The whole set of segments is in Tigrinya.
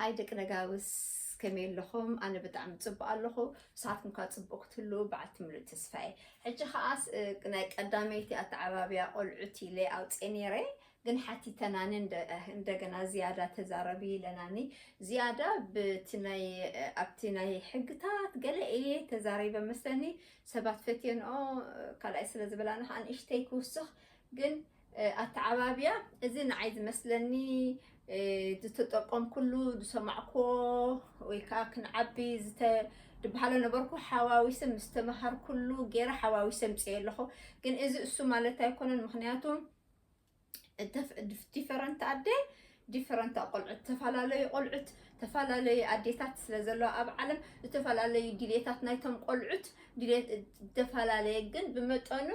ሃይ ደቂ ነጋውስ ከመይ ኣለኹም? ኣነ ብጣዕሚ ፅቡቅ ኣለኹ ንስኻትኩም ከ ፅቡቅ ክትህልው በዓልቲ ምሉእ ተስፋ እየ። ሕጂ ከዓ ናይ ቀዳመይቲ ኣተዓባብያ ቆልዑት ኢለ ኣውፅኤ ነይረ ግን ሓቲተናኒ እንደገና ዝያዳ ተዛረቢ ኢለናኒ ዝያዳ ብቲ ናይ ኣብቲ ናይ ሕግታት ገለ እየ ተዛሪበ መስለኒ ሰባት ፈትዮንኦ ካልኣይ ስለ ዝበላና ከዓ ንእሽተይ ክውስኽ ግን ኣተዓባብያ እዚ ንዓይ ዝመስለኒ ዝተጠቀምኩሉ ዝሰማዕክዎ ወይ ከዓ ክንዓቢ ዝተ ድበሃሎ ነበርኩ ሓዋዊሰ ምስ ተመሃርኩሉ ገይረ ሓዋዊሰ ምፅየ ኣለኹ ግን እዚ እሱ ማለት ኣይኮነን ምክንያቱ ዲፈረንት ኣደ ዲፈረንት ቆልዑት ተፈላለዩ ቆልዑት ተፈላለዩ ኣዴታት ስለ ዘለዋ ኣብ ዓለም ዝተፈላለዩ ድሌታት ናይቶም ቆልዑት ድሌት ዝተፈላለየ ግን ብመጠኑ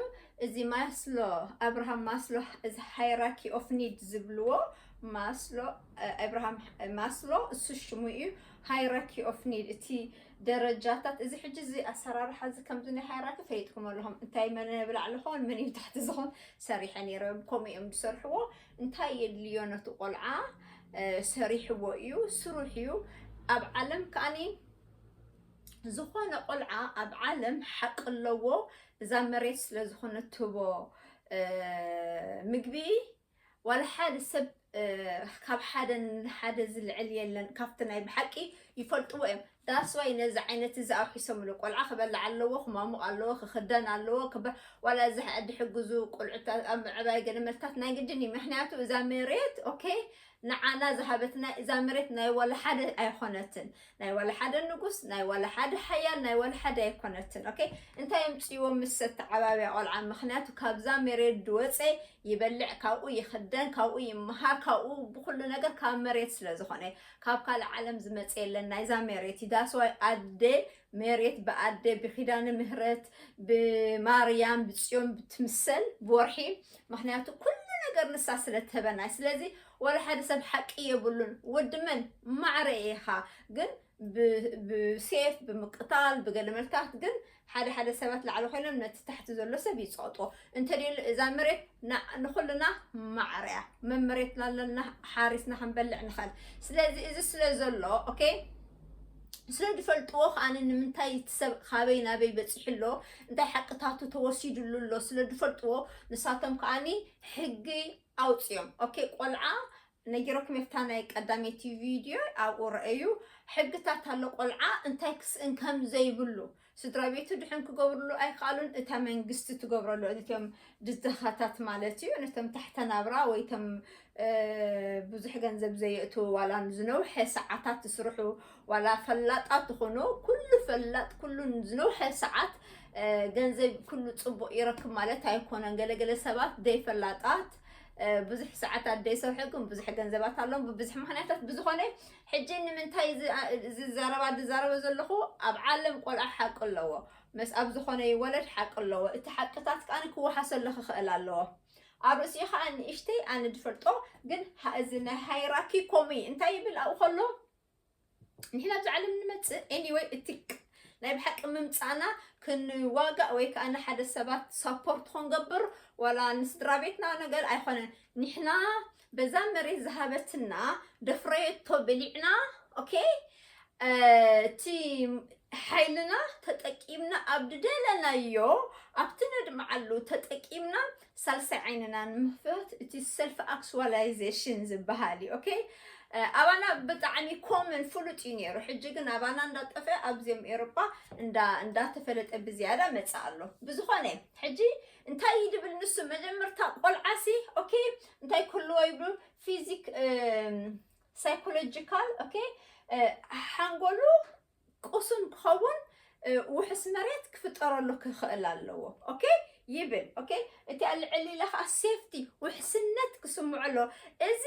እዚ ማስሎ ኣብርሃም ማስሎ እዚ ሃይራኪ ኦፍ ኒድ ዝብልዎ ማስሎ ኣብርሃም ማስሎ እሱ ሽሙ እዩ ሃይራኪ ኦፍ ኒድ እቲ ደረጃታት እዚ ሕጂ እዚ ኣሰራርሓ እዚ ከምዚ ናይ ሃይራኪ ፈሊጥኩም ኣለኹም እንታይ መን ብላዕሊ ኾን መን እዩ ታሕቲ ዝኾን ሰሪሐ ነይረ ከምኡ እዮም ዝሰርሕዎ እንታይ የድልዮ ነቲ ቆልዓ ሰሪሕዎ እዩ ስሩሕ እዩ ኣብ ዓለም ከዓኒ ዝኾነ ቆልዓ ኣብ ዓለም ሓቂ ኣለዎ እዛ መሬት ስለ ዝኾነት ትህቦ ምግቢ ዋላ ሓደ ሰብ ካብ ሓደ ንሓደ ዝልዕል የለን ካብቲ ናይ ብሓቂ ይፈልጥዎ እዮም That's why ነዚ ዓይነት እዚ ኣውሒሶምሉ ቆልዓ ክበልዕ ኣለዎ ክሟሙቕ ኣለዎ ክኽደን ኣለዎ ክበ ዋላ እዚ ሕዐ ድሕግዙ ቆልዑት ኣብ ምዕባይ ገለ መልክታት ናይ ግድን እዩ ምክንያቱ እዛ መሬት ኦኬ ንዓና ዝሃበትና እዛ መሬት ናይ ዋላ ሓደ ኣይኾነትን ናይ ዋላ ሓደ ንጉስ ናይ ዋላ ሓደ ሓያል ናይ ዋላ ሓደ ኣይኮነትን ኦኬ እንታይ የምፅዎ ምስ ተዓባብያ ቆልዓ ምክንያቱ ካብዛ መሬት ድወፀ ይበልዕ ካብኡ ይኽደን ካብኡ ይመሃር ካብኡ ብኩሉ ነገር ካብ መሬት ስለ ዝኾነ ካብ ካልእ ዓለም ዝመጸ የለን ናይዛ ሜሬት እዩ ዳስዋይ ኣደ ሜሬት ብኣደ ብኪዳነ ምህረት ብማርያም ብጽዮን ብትምሰል ብወርሒ ምክንያቱ ኩሉ ነገር ንሳ ስለ ትህበና ስለዚ ወላ ሓደ ሰብ ሓቂ የብሉን ወዲ መን ማዕረ ኢኻ ግን ብሴፍ ብምቅታል ብገለ መልክታት ግን ሓደ ሓደ ሰባት ላዕሊ ኮይኖም ነቲ ታሕቲ ዘሎ ሰብ ይጸቕጦ እንተደሉ እዛ መሬት ንኹልና ማዕረ እያ መመሬት ላለና ሓሪስና ክንበልዕ ንኽእል ስለዚ እዚ ስለ ዘሎ ኦኬ ስለ ዝፈልጥዎ ከዓ ንምንታይ እቲ ሰብ ካበይ ናበይ በፂሑ ኣሎ እንታይ ሓቅታቱ ተወሲድሉ ኣሎ ስለ ዝፈልጥዎ ንሳቶም ከዓኒ ሕጊ ኣውፅኦም ኦኬ ቆልዓ ነጊረኩም እታ ናይ ቀዳመይቲ ቪድዮ ኣብኡ ረኣዩ ሕግታት ኣሎ ቆልዓ እንታይ ክስእን ከም ዘይብሉ ስድራ ቤቱ ድሕን ክገብርሉ ኣይከኣሉን እታ መንግስቲ ትገብረሉ ነቶም ድዛኻታት ማለት እዩ ነቶም ታሕተ ናብራ ወይ ቶም ብዙሕ ገንዘብ ዘየእትዉ ዋላ ዝነውሐ ሰዓታት ትስርሑ ዋላ ፈላጣት ትኾኑ ኩሉ ፈላጥ ኩሉ ዝነውሐ ሰዓት ገንዘብ ኩሉ ፅቡቅ ይረክብ ማለት ኣይኮነን ገለገለ ሰባት ደይፈላጣት ብዙሕ ሰዓታት ዘይሰርሐኩም ብዙሕ ገንዘባት ኣለዎም ብብዙሕ ምክንያታት ብዝኾነ ሕጂ ንምንታይ ዝዛረባ ዝዛረበ ዘለኹ ኣብ ዓለም ቆልዓ ሓቂ ኣለዎ ምስ ኣብ ዝኾነ ይወለድ ሓቂ ኣለዎ እቲ ሓቅታት ከዓ ክወሓሰሉ ክኽእል ኣለዎ ኣብ ርእሲ ከዓ ንእሽተይ ኣነ ዝፈልጦ ግን እዚ ናይ ሃይራኪ ኮሚ እንታይ ይብል ኣብኡ ከሎ ንሕና ኣብዚ ዓለም ንመጽእ ኤኒወይ እቲ ናይ ብሓቂ ምምጻእና ክንዋጋእ ወይ ከዓ ንሓደ ሰባት ሳፖርት ክንገብር ዋላ ንስድራ ቤትና ነገር ኣይኮነን ንሕና በዛ መሬት ዝሃበትና ደፍረየቶ ብሊዕና ኦኬ እቲ ሓይልና ተጠቂምና ኣብ ድደለናዮ ኣብቲ ነድምዓሉ ተጠቂምና ሳልሳይ ዓይንና ንምክፋት እቲ ሰልፍ ኣክስዋላይዜሽን ዝበሃል እዩ ኦኬ ኣባና ብጣዕሚ ኮመን ፍሉጥ እዩ ነይሩ ሕጂ ግን ኣባና እንዳጠፈ ኣብዚኦም ኤሮጳ እንዳተፈለጠ ብዝያዳ መፀ ኣሎ ብዝኾነ ሕጂ እንታይ እዩ ድብል ንሱ መጀመርታ ቆልዓሲ ኦኬ እንታይ ክህልዎ ይብሉ ፊዚክ ሳይኮሎጂካል ኦኬ ሓንጎሉ ቁሱን ክኸውን ውሑስ መሬት ክፍጠረሉ ክኽእል ኣለዎ ኦኬ ይብል ኦኬ እቲ ኣብ ልዕሊ ኢለ ከዓ ሴፍቲ ውሕስነት ክስምዖ ኣሎ እዚ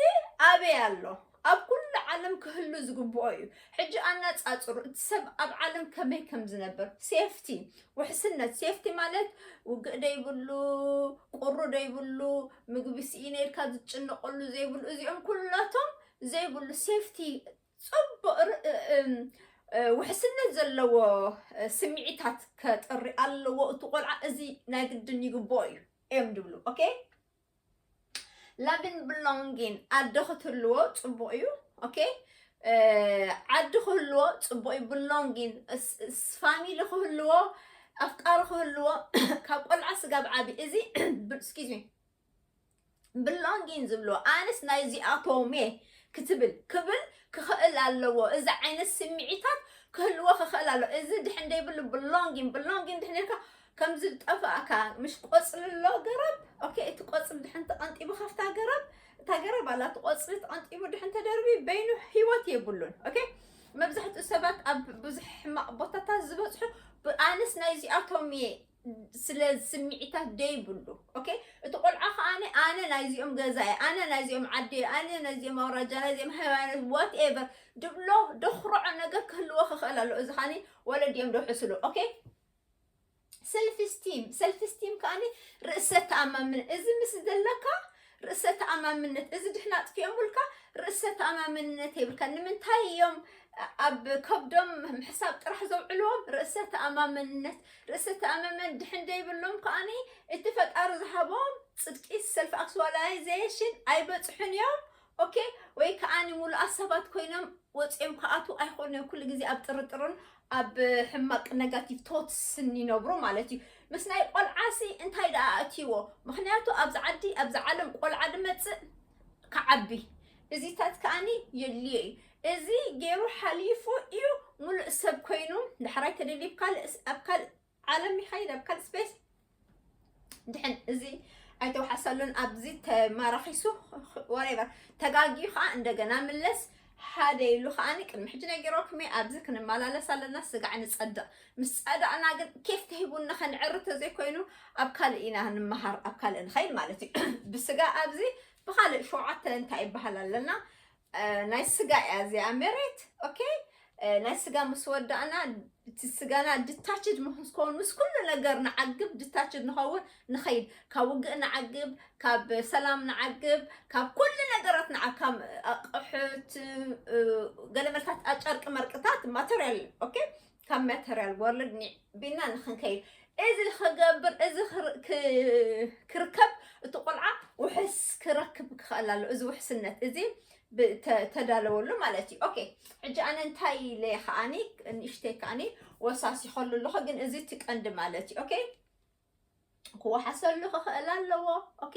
ኣበይ ኣሎ ኣብ ኩሉ ዓለም ክህሉ ዝግብኦ እዩ ሕጂ ኣነፃፅሩ እቲ ሰብ ኣብ ዓለም ከመይ ከም ዝነብር ሴፍቲ ውሕስነት ሴፍቲ ማለት ውግእ ደይብሉ ቁሩ ደይብሉ ምግቢ ስኢነ ኢልካ ዝጭነቀሉ ዘይብሉ እዚኦም ኩላቶም ዘይብሉ ሴፍቲ ጽቡቕ ርእእ ውሕስነት ዘለዎ ስምዒታት ከጥሪ ኣለዎ እቲ ቆልዓ እዚ ናይ ግድን ይግብኦ እዩ እዮም ዝብሉ ኦኬ ላብን ብሎንጊን ኣደ ክትህልዎ ጽቡቕ እዩ ኦኬ ዓዲ ክህልዎ ፅቡቅ እዩ ብሎንጊን ፋሚሊ ክህልዎ ኣፍቃሪ ክህልዎ ካብ ቆልዓ ስጋብ ዓብዪ እዚ ስኪዝሚ ብሎንጊን ዝብሎ ኣነስ ናይ እዚኣቶም እየ ክትብል ክብል ክኽእል ኣለዎ እዚ ዓይነት ስምዒታት ክህልዎ ክኽእል ኣሎ እዚ ድሕን ደይብሉ ብሎንጊን ብሎንጊን ድሕን ኢልካ ከም ዝጠፍእካ ምሽ ቆፅሊ ኣሎ ገረብ ኦኬ እቲ ቆፅሊ ድሕን ተቐንጢቡ ካብታ ገረብ እታ ገረብ ኣላ እቲ ቆፅሊ ተቐንጢቡ ድሕን ተደርቢ በይኑ ህይወት የብሉን ኦኬ መብዛሕትኡ ሰባት ኣብ ብዙሕ ሕማቕ ቦታታት ዝበፅሑ ኣነስ ናይ እዚኣቶም እየ ስለ ስምዒታት ደይብሉ ኦኬ እቲ ቆልዓ ከዓ ኣነ ናይዚኦም ገዛ እየ ኣነ ናይዚኦም ዓዲ እየ ኣነ ናይዚኦም ኣውራጃ ናይዚኦም ሃይማኖት ዋት ኤቨር ድብሎ ደኩርዖ ነገር ክህልዎ ክኽእል ኣሎ እዚ ከዓኒ ወለዲኦም ደውሕስሉ ኦኬ ሰልፍ ስቲም ሰልፍ ስቲም ከዓኒ ርእሰ ተኣማምን እዚ ምስ ዘለካ ርእሰ ተኣማምነት እዚ ድሕና ኣጥፊኦምልካ ርእሰ ተኣማምነት የብልካ ንምንታይ እዮም ኣብ ከብዶም ምሕሳብ ጥራሕ ዘውዕልዎም ርእሰ ተኣማምነት ርእሰ ተኣማመን ድሕን ዘይብሎም ከዓኒ እቲ ፈጣሪ ዝሃቦም ፅድቂ ሰልፍ ኣክስዋላይዜሽን ኣይበፅሑን እዮም ኦኬ ወይ ከዓኒ ሙሉኣት ሰባት ኮይኖም ወፂኦም ከኣቱ ኣይኮኑ እዮም ኩሉ ግዜ ኣብ ጥርጥርን ኣብ ሕማቅ ነጋቲቭ ቶትስ እንይነብሩ ማለት እዩ ምስ ናይ ቆልዓ ሲ እንታይ ደኣ ኣእትይዎ ምክንያቱ ኣብዚ ዓዲ ኣብዚ ዓለም ቆልዓ ድመጽእ ክዓቢ እዚታት ከኣኒ የድልዮ እዩ እዚ ገይሩ ሓሊፉ እዩ ሙሉእ ሰብ ኮይኑ ዳሕራይ ተደልዩ ኣብ ካልእ ዓለም ይኸይድ ኣብ ካልእ ስፔስ ድሕን እዚ ኣይተውሓሰሉን ኣብዚ ተማራኺሱ ወሬቨር ተጋጊዩ ከዓ እንደገና ምለስ ሓደ ኢሉ ከዓኒ ቅድሚ ሕጂ ነጊሮኩም እየ ኣብዚ ክንመላለስ ኣለና ስጋዕ ንፀድቕ ምስ ፀዳእና ግን ኬፍ ተሂቡና ከንዕሪ ተዘይኮይኑ ኣብ ካልእ ኢና ንመሃር ኣብ ካልእ ንኸይድ ማለት እዩ ብስጋ ኣብዚ ብካልእ ሸውዓተ እንታይ ይበሃል ኣለና ናይ ስጋ እያ እዚኣ መሬት ኦኬ ናይ ስጋ ምስ ወዳእና እቲ ስጋና ድታችድ ምስኮን ምስ ኩሉ ነገር ንዓግብ ድታችድ ንኸውን ንኸይድ ካብ ውግእ ንዓግብ ካብ ሰላም ንዓግብ ካብ ኩሉ ነገራት ንዓካም ኣቕሑት ገለመልታት ኣጨርቂ መርቅታት ማተርያል ኦኬ ካብ መተርያል ወርልድ ኒዕቢና ንክንከይድ እዚ ክገብር እዚ ክርከብ እቲ ቆልዓ ውሕስ ክረክብ ክኽእል ኣሎ እዚ ውሕስነት እዚ ተዳለወሉ ማለት እዩ ኦኬ ሕጂ ኣነ እንታይ ኢለ ከዓኒ ንእሽተይ ከዓኒ ወሳሲኸሉ ኣለኹ ግን እዚ እቲ ቀንዲ ማለት እዩ ኦኬ ክወሓሰሉ ክኽእል ኣለዎ ኦኬ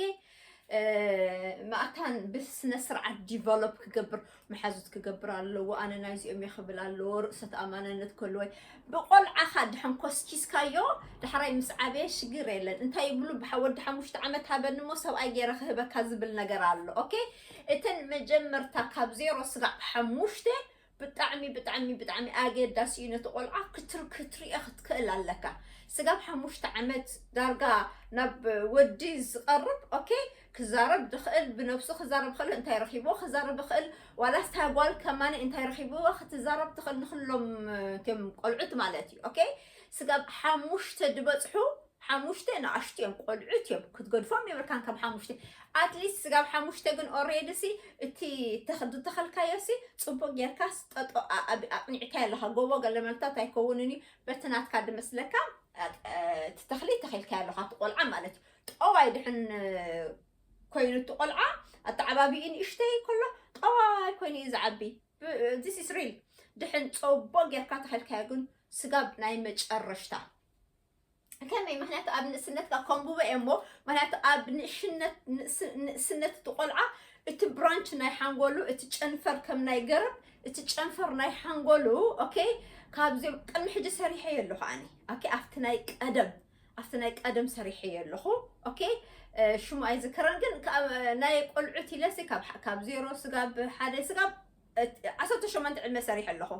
ማእታን ብስነ ስርዓት ዲቨሎፕ ክገብር መሓዙት ክገብር ኣለዎ ኣነ ናይዚኦም እየ ክብል ኣለዎ ርእሰ ተኣማንነት ከልወይ ብቆልዓኻ ድሕን ኮስኪስካዮ ዳሕራይ ምስ ዓበየ ሽግር የለን እንታይ ይብሉ ብሓወዲ ሓሙሽተ ዓመት ሃበኒ እሞ ሰብኣይ ገይረ ክህበካ ዝብል ነገር ኣሎ ኦኬ እተን መጀመርታ ካብ ዜሮ ስጋዕ ሓሙሽተ ብጣዕሚ ብጣዕሚ ብጣዕሚ ኣገዳሲ እዩ ነቲ ቆልዓ ክትር ክትሪኦ ክትክእል ኣለካ ስጋብ ሓሙሽተ ዓመት ዳርጋ ናብ ወዲ ዝቐርብ ኦኬ ክዛረብ ዝኽእል ብነብሱ ክዛረብ ክእል እንታይ ረኺብዎ ክዛረብ ይኽእል ዋላስ እታ ጓል ከማነ እንታይ ረኺብዎ ክትዛረብ ትኽእል ንኩሎም እቶም ቆልዑት ማለት እዩ ኦኬ ስጋብ ሓሙሽተ ዝበፅሑ ሓሙሽተ ንኣሽቱ እዮም ቆልዑት እዮም ክትገድፎም የብልካን ካብ ሓሙሽተ ኣትሊስት ስጋብ ሓሙሽተ ግን ኦሬዲ ሲ እቲ ዝተኸልካዮ ሲ ፅቡቅ ጌርካስ ጠጦ ኣቅኒዕካዮ ኣለካ ጎቦ ገለመልታት ኣይከውንን እዩ በቲ ናትካ ድመስለካ እቲ ተኽሊ ተኺልካዮ ኣለካ እቲ ቆልዓ ማለት እዩ ጠዋይ ድሕን ኮይኑ እቲ ቆልዓ ኣተዓባቢኡ ንእሽተይ ከሎ ጠዋይ ኮይኑ እዩ ዝዓቢ ዚስ ኢስ ሪል ድሕን ፀቦ ጌርካ ተኽልካዮ ግን ስጋብ ናይ መጨረሽታ ከመይ ምክንያቱ ኣብ ንእስነትካ ከንብቦ እየ እሞ ምክንያቱ ኣብ ንእሽነት ንእስ- ንእስነት እቲ ቆልዓ እቲ ብራንች ናይ ሓንጎሉ እቲ ጨንፈር ከም ናይ ገረብ እቲ ጨንፈር ናይ ሓንጎሉ ኦኬ ካብዚኦም ቅድሚ ሕጂ ሰሪሐዮ ኣለኹ ኣነ ኦኬ ኣብቲ ናይ ቀደም ኣብቲ ናይ ቀደም ሰሪሐዮ ኣለኹ ኦኬ እ፣ ሽሙ ኣይዝከረን ግን ካብ- ናይ ቆልዑት ኢለሲ ካብ ካብ ዜሮ ስጋብ ሓደ ስጋብ ዓሰርተ ሸሞንተ ዕድመ ሰሪሐ ኣለኹ።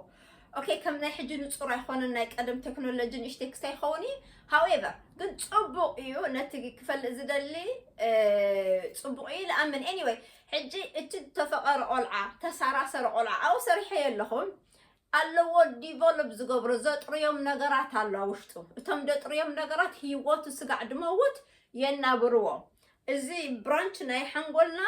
ኦኬ ከም ናይ ሕጂ ንጹር ኣይኮነን ናይ ቀደም ቴክኖሎጂ ንእሽተይ ክሳይ ይኸውን እዩ ሃውኤቨር ግን ጽቡቕ እዩ ነቲ ክፈልጥ ዝደሊ ጽቡቕ እዩ ልኣምን ኤኒወይ ሕጂ እቲ ተፈቐረ ቆልዓ ተሳራሰረ ቆልዓ ኣብኡ ሰሪሐዮ ኣለኹ ኣለዎ ዲቨሎፕ ዝገብሮ ዘጥርዮም ነገራት ኣሎ ውሽጡ እቶም ደጥርዮም ነገራት ህይወቱ ስጋዕ ድመውት የናብርዎ እዚ ብራንች ናይ ሓንጎልና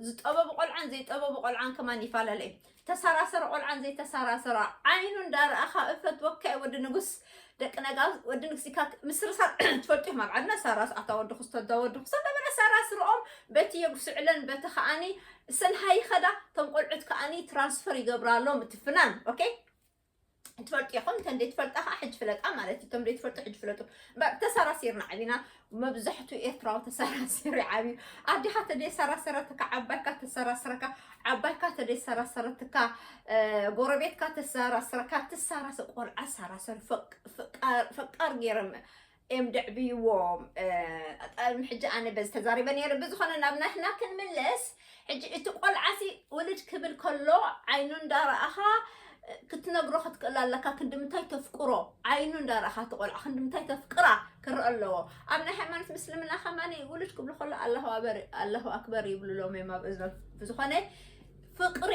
ዝጠበቡ ቆልዓን ዘይጠበቡ ቆልዓን ከማን ይፈላለ እዩ ተሳራሰረ ቆልዓን ዘይተሳራሰረ ዓይኑ እንዳረኣኻ እፈትወካ እዩ ወዲ ንጉስ ደቂ ነጋ ወዲ ንጉስ ኢካ ምስርሳር ትፈልጥኹም ኣብ ዓድና ሳራስ ኣታ ወዲ ክስቶ እዛ ወዲ ክስቶ እንዳበለ ሳራስ ርኦም በቲ የጉስዕለን በቲ ከዓኒ ሰልሃ ይኸዳ እቶም ቆልዑት ከዓኒ ትራንስፈር ይገብራሎም እቲ ፍናን ኦኬ ትፈልጡ ኢኹም እተን ዘይትፈልጣ ከዓ ሕጂ ፍለጣ ማለት እዩ እቶም ዘይትፈልጡ ሕጂ ፍለጡ ባ- ተሰራሲርና ዓቢና መብዛሕትኡ ኤርትራዊ ተሰራሲሩ ይዓብዩ ኣዴኻ ተደይሰራሰረትካ ዓባይካ ተሰራስረካ ዓባይካ ተደይሰራሰረትካ እ፣ ጎረቤትካ ተሰራስረካ ትሰራሰ ቆልዓ ሰራሰር ፈቅ- ፈቃር ፈቃር ገይሮም እዮም ደዕብይዎም ም ሕጂ ኣነ በዚ ተዛሪበ ነይረ ብዝኾነ ናብ ናትና ክንምለስ ሕጂ እቲ ቆልዓሲ ውልድ ክብል ከሎ ዓይኑ እንዳረኣኻ ክትነግሮ ክትክእል ኣለካ ክንዲምንታይ ተፍቅሮ ዓይኑ እንዳረኣኻ እቲ ቆልዓ ክንዲምንታይ ተፍቅራ ክረአ ኣለዎ ኣብ ናይ ሃይማኖት ምስልምና ከማኒ ውልድ ክብሉ ከሎ ኣለሁ ኣክበር ይብሉሎም እዮም ኣብ እዝኖ ብዝኾነ ፍቅሪ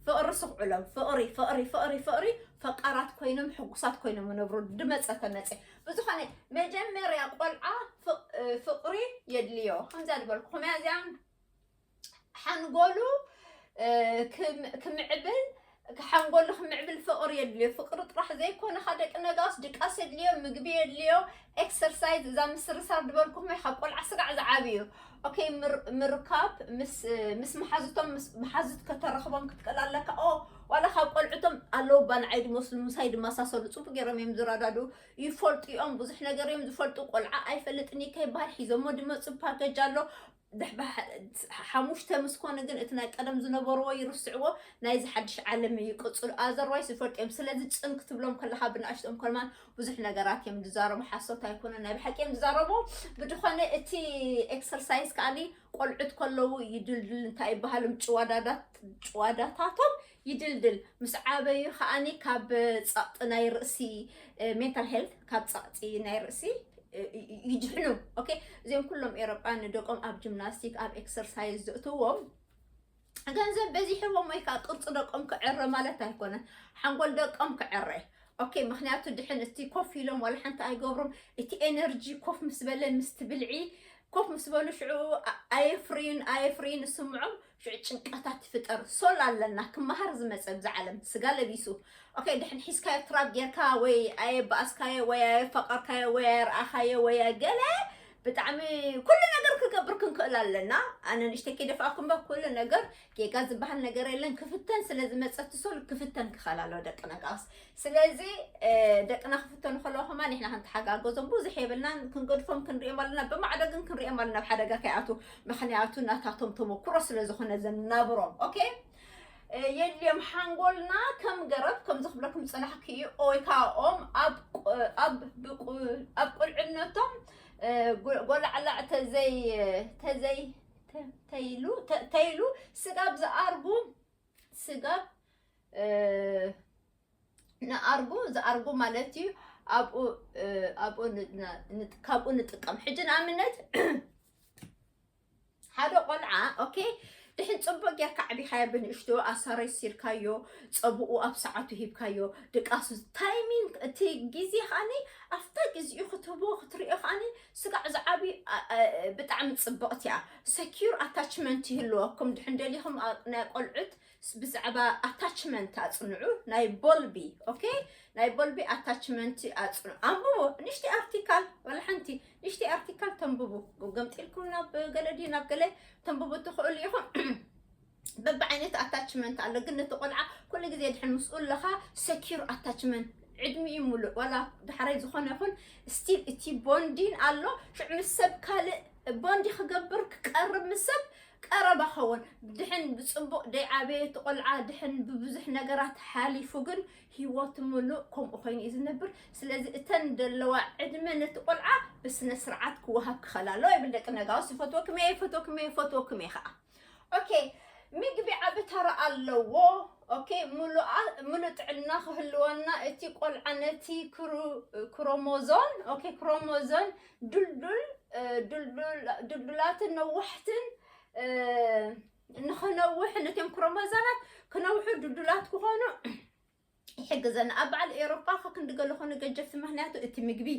ፍቅሪ ስኽዑሎም ፍቅሪ ፍቅሪ ፍቅሪ ፍቅሪ ፈቃራት ኮይኖም ሕጉሳት ኮይኖም ይነብሩ ድመፀ ተመፀ ብዝኾነ መጀመርያ ቆልዓ ፍቕሪ የድልዮ ከምዛ ዝበልኩኹም እያ እዚኣ ሓንጎሉ ክምዕብል ሓንጎሉ ክምዕብል ፍቕሪ የድልዮ ፍቕሪ ጥራሕ ዘይኮነ ካ ደቂ ነጋስ ድቃስ የድልዮ ምግቢ የድልዮ ኤክሰርሳይዝ እዛ ምስርሳር ዝበልኩኹም ካብ ቆልዓ ስጋዕ ዝዓብዩ ኦኬ ምር- ምርካብ ምስ ምስ መሓዙቶም ምስ መሓዙት ከተረኽቦም ክትክእል ኣለካ ኦ ዋላ ካብ ቆልዑቶም ኣለዉ እባ ንዓይ ድመስሉ ምሳይ ድመሳሰሉ ፅቡቅ ገይሮም እዮም ዝረዳድኡ ይፈልጡ እዮም ብዙሕ ነገር እዮም ዝፈልጡ ቆልዓ ኣይፈልጥን እዩ ከይበሃል ሒዞሞ ድመፁ ፓኬጅ ኣሎ ድሕ- ብሓ- ሓሙሽተ ምስ ኮኑ ግን እቲ ናይ ቀደም ዝነበርዎ ይርስዕዎ ናይዚ ሓድሽ ዓለም ይቅፅሉ ኣዘርዋይስ ይፈልጡ እዮም ስለዚ ፅን ክትብሎም ከለካ ብናእሽቶም ከማን ብዙሕ ነገራት እዮም ዝዛረቡ ሓሶት ኣይኮነን ናይ ብሓቂ እዮም ዝዛረቡ ብድኾነ እቲ ኤክሰርሳይዝ ከዓኒ ቆልዑት ከለዉ ይድልድል እንታይ ይበሃሎም ጭዋዳታቶም ይድልድል ምስ ዓበዩ ከዓኒ ካብ ፀቕጢ ናይ ርእሲ ሜንታል ሄልት ካብ ፀቕጢ ናይ ርእሲ ይድሕኑ ኦኬ እዚኦም ኩሎም ኤሮጳ ንደቆም ኣብ ጂምናስቲክ ኣብ ኤክሰርሳይዝ ዘእትዎም ገንዘብ በዚሕዎም ወይ ከዓ ቅርፂ ደቆም ክዕረ ማለት ኣይኮነን ሓንጎል ደቆም ክዕረ ኦኬ ምክንያቱ ድሕን እቲ ኮፍ ኢሎም ዋላ ሓንቲ ኣይገብሩም እቲ ኤነርጂ ኮፍ ምስ በለ ምስቲ ብልዒ ኮፍ ምስ በሉ ሽዑ ኣየፍርዩን ኣየፍርዩን ስምዖም ሽዑ ጭንቀታት ይፍጠር ሶል ኣለና ክመሃር ዝመፀ ብዛ ዓለም ስጋ ለቢሱ ኦኬ ድሕን ሒዝካዮ ትራብ ጌርካ ወይ ኣየባኣስካዮ ወይ ኣየፈቐርካዮ ወይ ኣየርኣኻዮ ወይ ገለ ብጣዕሚ ኩሉ ነገር ክገብር ክንክእል ኣለና ኣነ ንእሽተይ ከይደፋእኩም ባ ኩሉ ነገር ጌጋ ዝበሃል ነገር የለን ክፍተን ስለ ዝመፀት ሶል ክፍተን ክኸል ኣለዎ ደቅና ከዓስ ስለዚ እ፣ ደቅና ክፍተኑ ከለዎ ከማ ንሕና ክንተሓጋገዞም ብዙሕ የብልናን ክንገድፎም ክንሪኦም ኣለና ብማዕዶ ግን ክንሪኦም ኣለና ኣብ ሓደጋ ከይኣትዉ ምክንያቱ ናታቶም ተመኩሮ ስለ ዝኾነ ዘናብሮም ኦኬ የድልዮም ሓንጎልና ከም ገረብ ከምዚ ክብለኩም ዝፀናሕኩ እዩ ወይ ከዓ ኦም ኣብ ቁልዕነቶም ጎላዕላዕ ተዘይ ተዘይ ተይሉ ተይሉ ስጋብ ዝኣርጉ ስጋብ ንኣርጉ ዝኣርጉ ማለት እዩ ኣብኡ ኣብኡ ካብኡ ንጥቀም ሕጂ ንኣብነት ሓደ ቆልዓ ኦኬ ድሕን ፅቡቅ ጌርካ ኣዕቢኻዮ ብንእሽቶ ኣሳረሲርካዮ ፀብኡ ኣብ ሰዓቱ ሂብካዮ ድቃሱ ታይሚን እቲ ግዜ ከዓኒ ኣብታ ግዜኡ ክትህቦ ክትሪኦ ከዓኒ ስጋዕ ዝዓብዩ ብጣዕሚ ፅብቕቲ እያ ሰኪር ኣታችመንት ይህልወኩም ድሕን ደሊኹም ናይ ቆልዑት ብዛዕባ ኣታችመንት ኣፅንዑ ናይ ቦልቢ ኦኬ ናይ ቦልቢ ኣታችመንት ኣፅንዑ ኣንብቡ ንሽቲ ኣርቲካል ወላ ሓንቲ ንሽቲ ኣርቲካል ተንብቡ ገምጢልኩም ናብ ገለ ድዩ ናብ ገለ ተንብቡ ትኽእሉ ኢኹም በብዓይነት ኣታችመንት ኣሎ ግን ነቲ ቆልዓ ኩሉ ግዜ ድሕን ምስኡ ኣለኻ ሰኪር ኣታችመንት ዕድሚኡ ሙሉእ ዋላ ዳሕራይ ዝኾነ ይኹን ስቲል እቲ ቦንዲን ኣሎ ሽዑ ምስ ሰብ ካልእ ቦንዲ ክገብር ክቀርብ ምስ ሰብ ቀረባ ከውን ድሕን ብጽቡቅ ደይ ዓበየ እቲ ቆልዓ ድሕን ብብዙሕ ነገራት ሓሊፉ ግን ሂወቱ ምሉእ ከምኡ ኮይኑ እዩ ዝነብር ስለዚ እተን ደለዋ ዕድመ ነቲ ቆልዓ ብስነ ስርዓት ክወሃብ ክኸል ኣለዎ ይብል ደቂ ነጋውስ ይፈትወኩም እየ ይፈትወኩም እየ ይፈትወኩም እየ ከዓ ኦኬ ምግቢ ዓቢ ተራ ኣለዎ ኦኬ ምሉኣ ምሉእ ጥዕና ክህልወና እቲ ቆልዓ ነቲ ክሩ- ክሮሞዞን ኦኬ ክሮሞዞን ድልዱል ድልዱላትን ነዋሕትን ንክነውሕ ነቶም ክሮሞዛማት ክነውሑ ድልዱላት ክኾኑ ይሕግዘና ኣብ በዓል ኤሮፓ ከክንዲ ገለ ኮነ ገጀፍቲ ምክንያቱ እቲ ምግቢ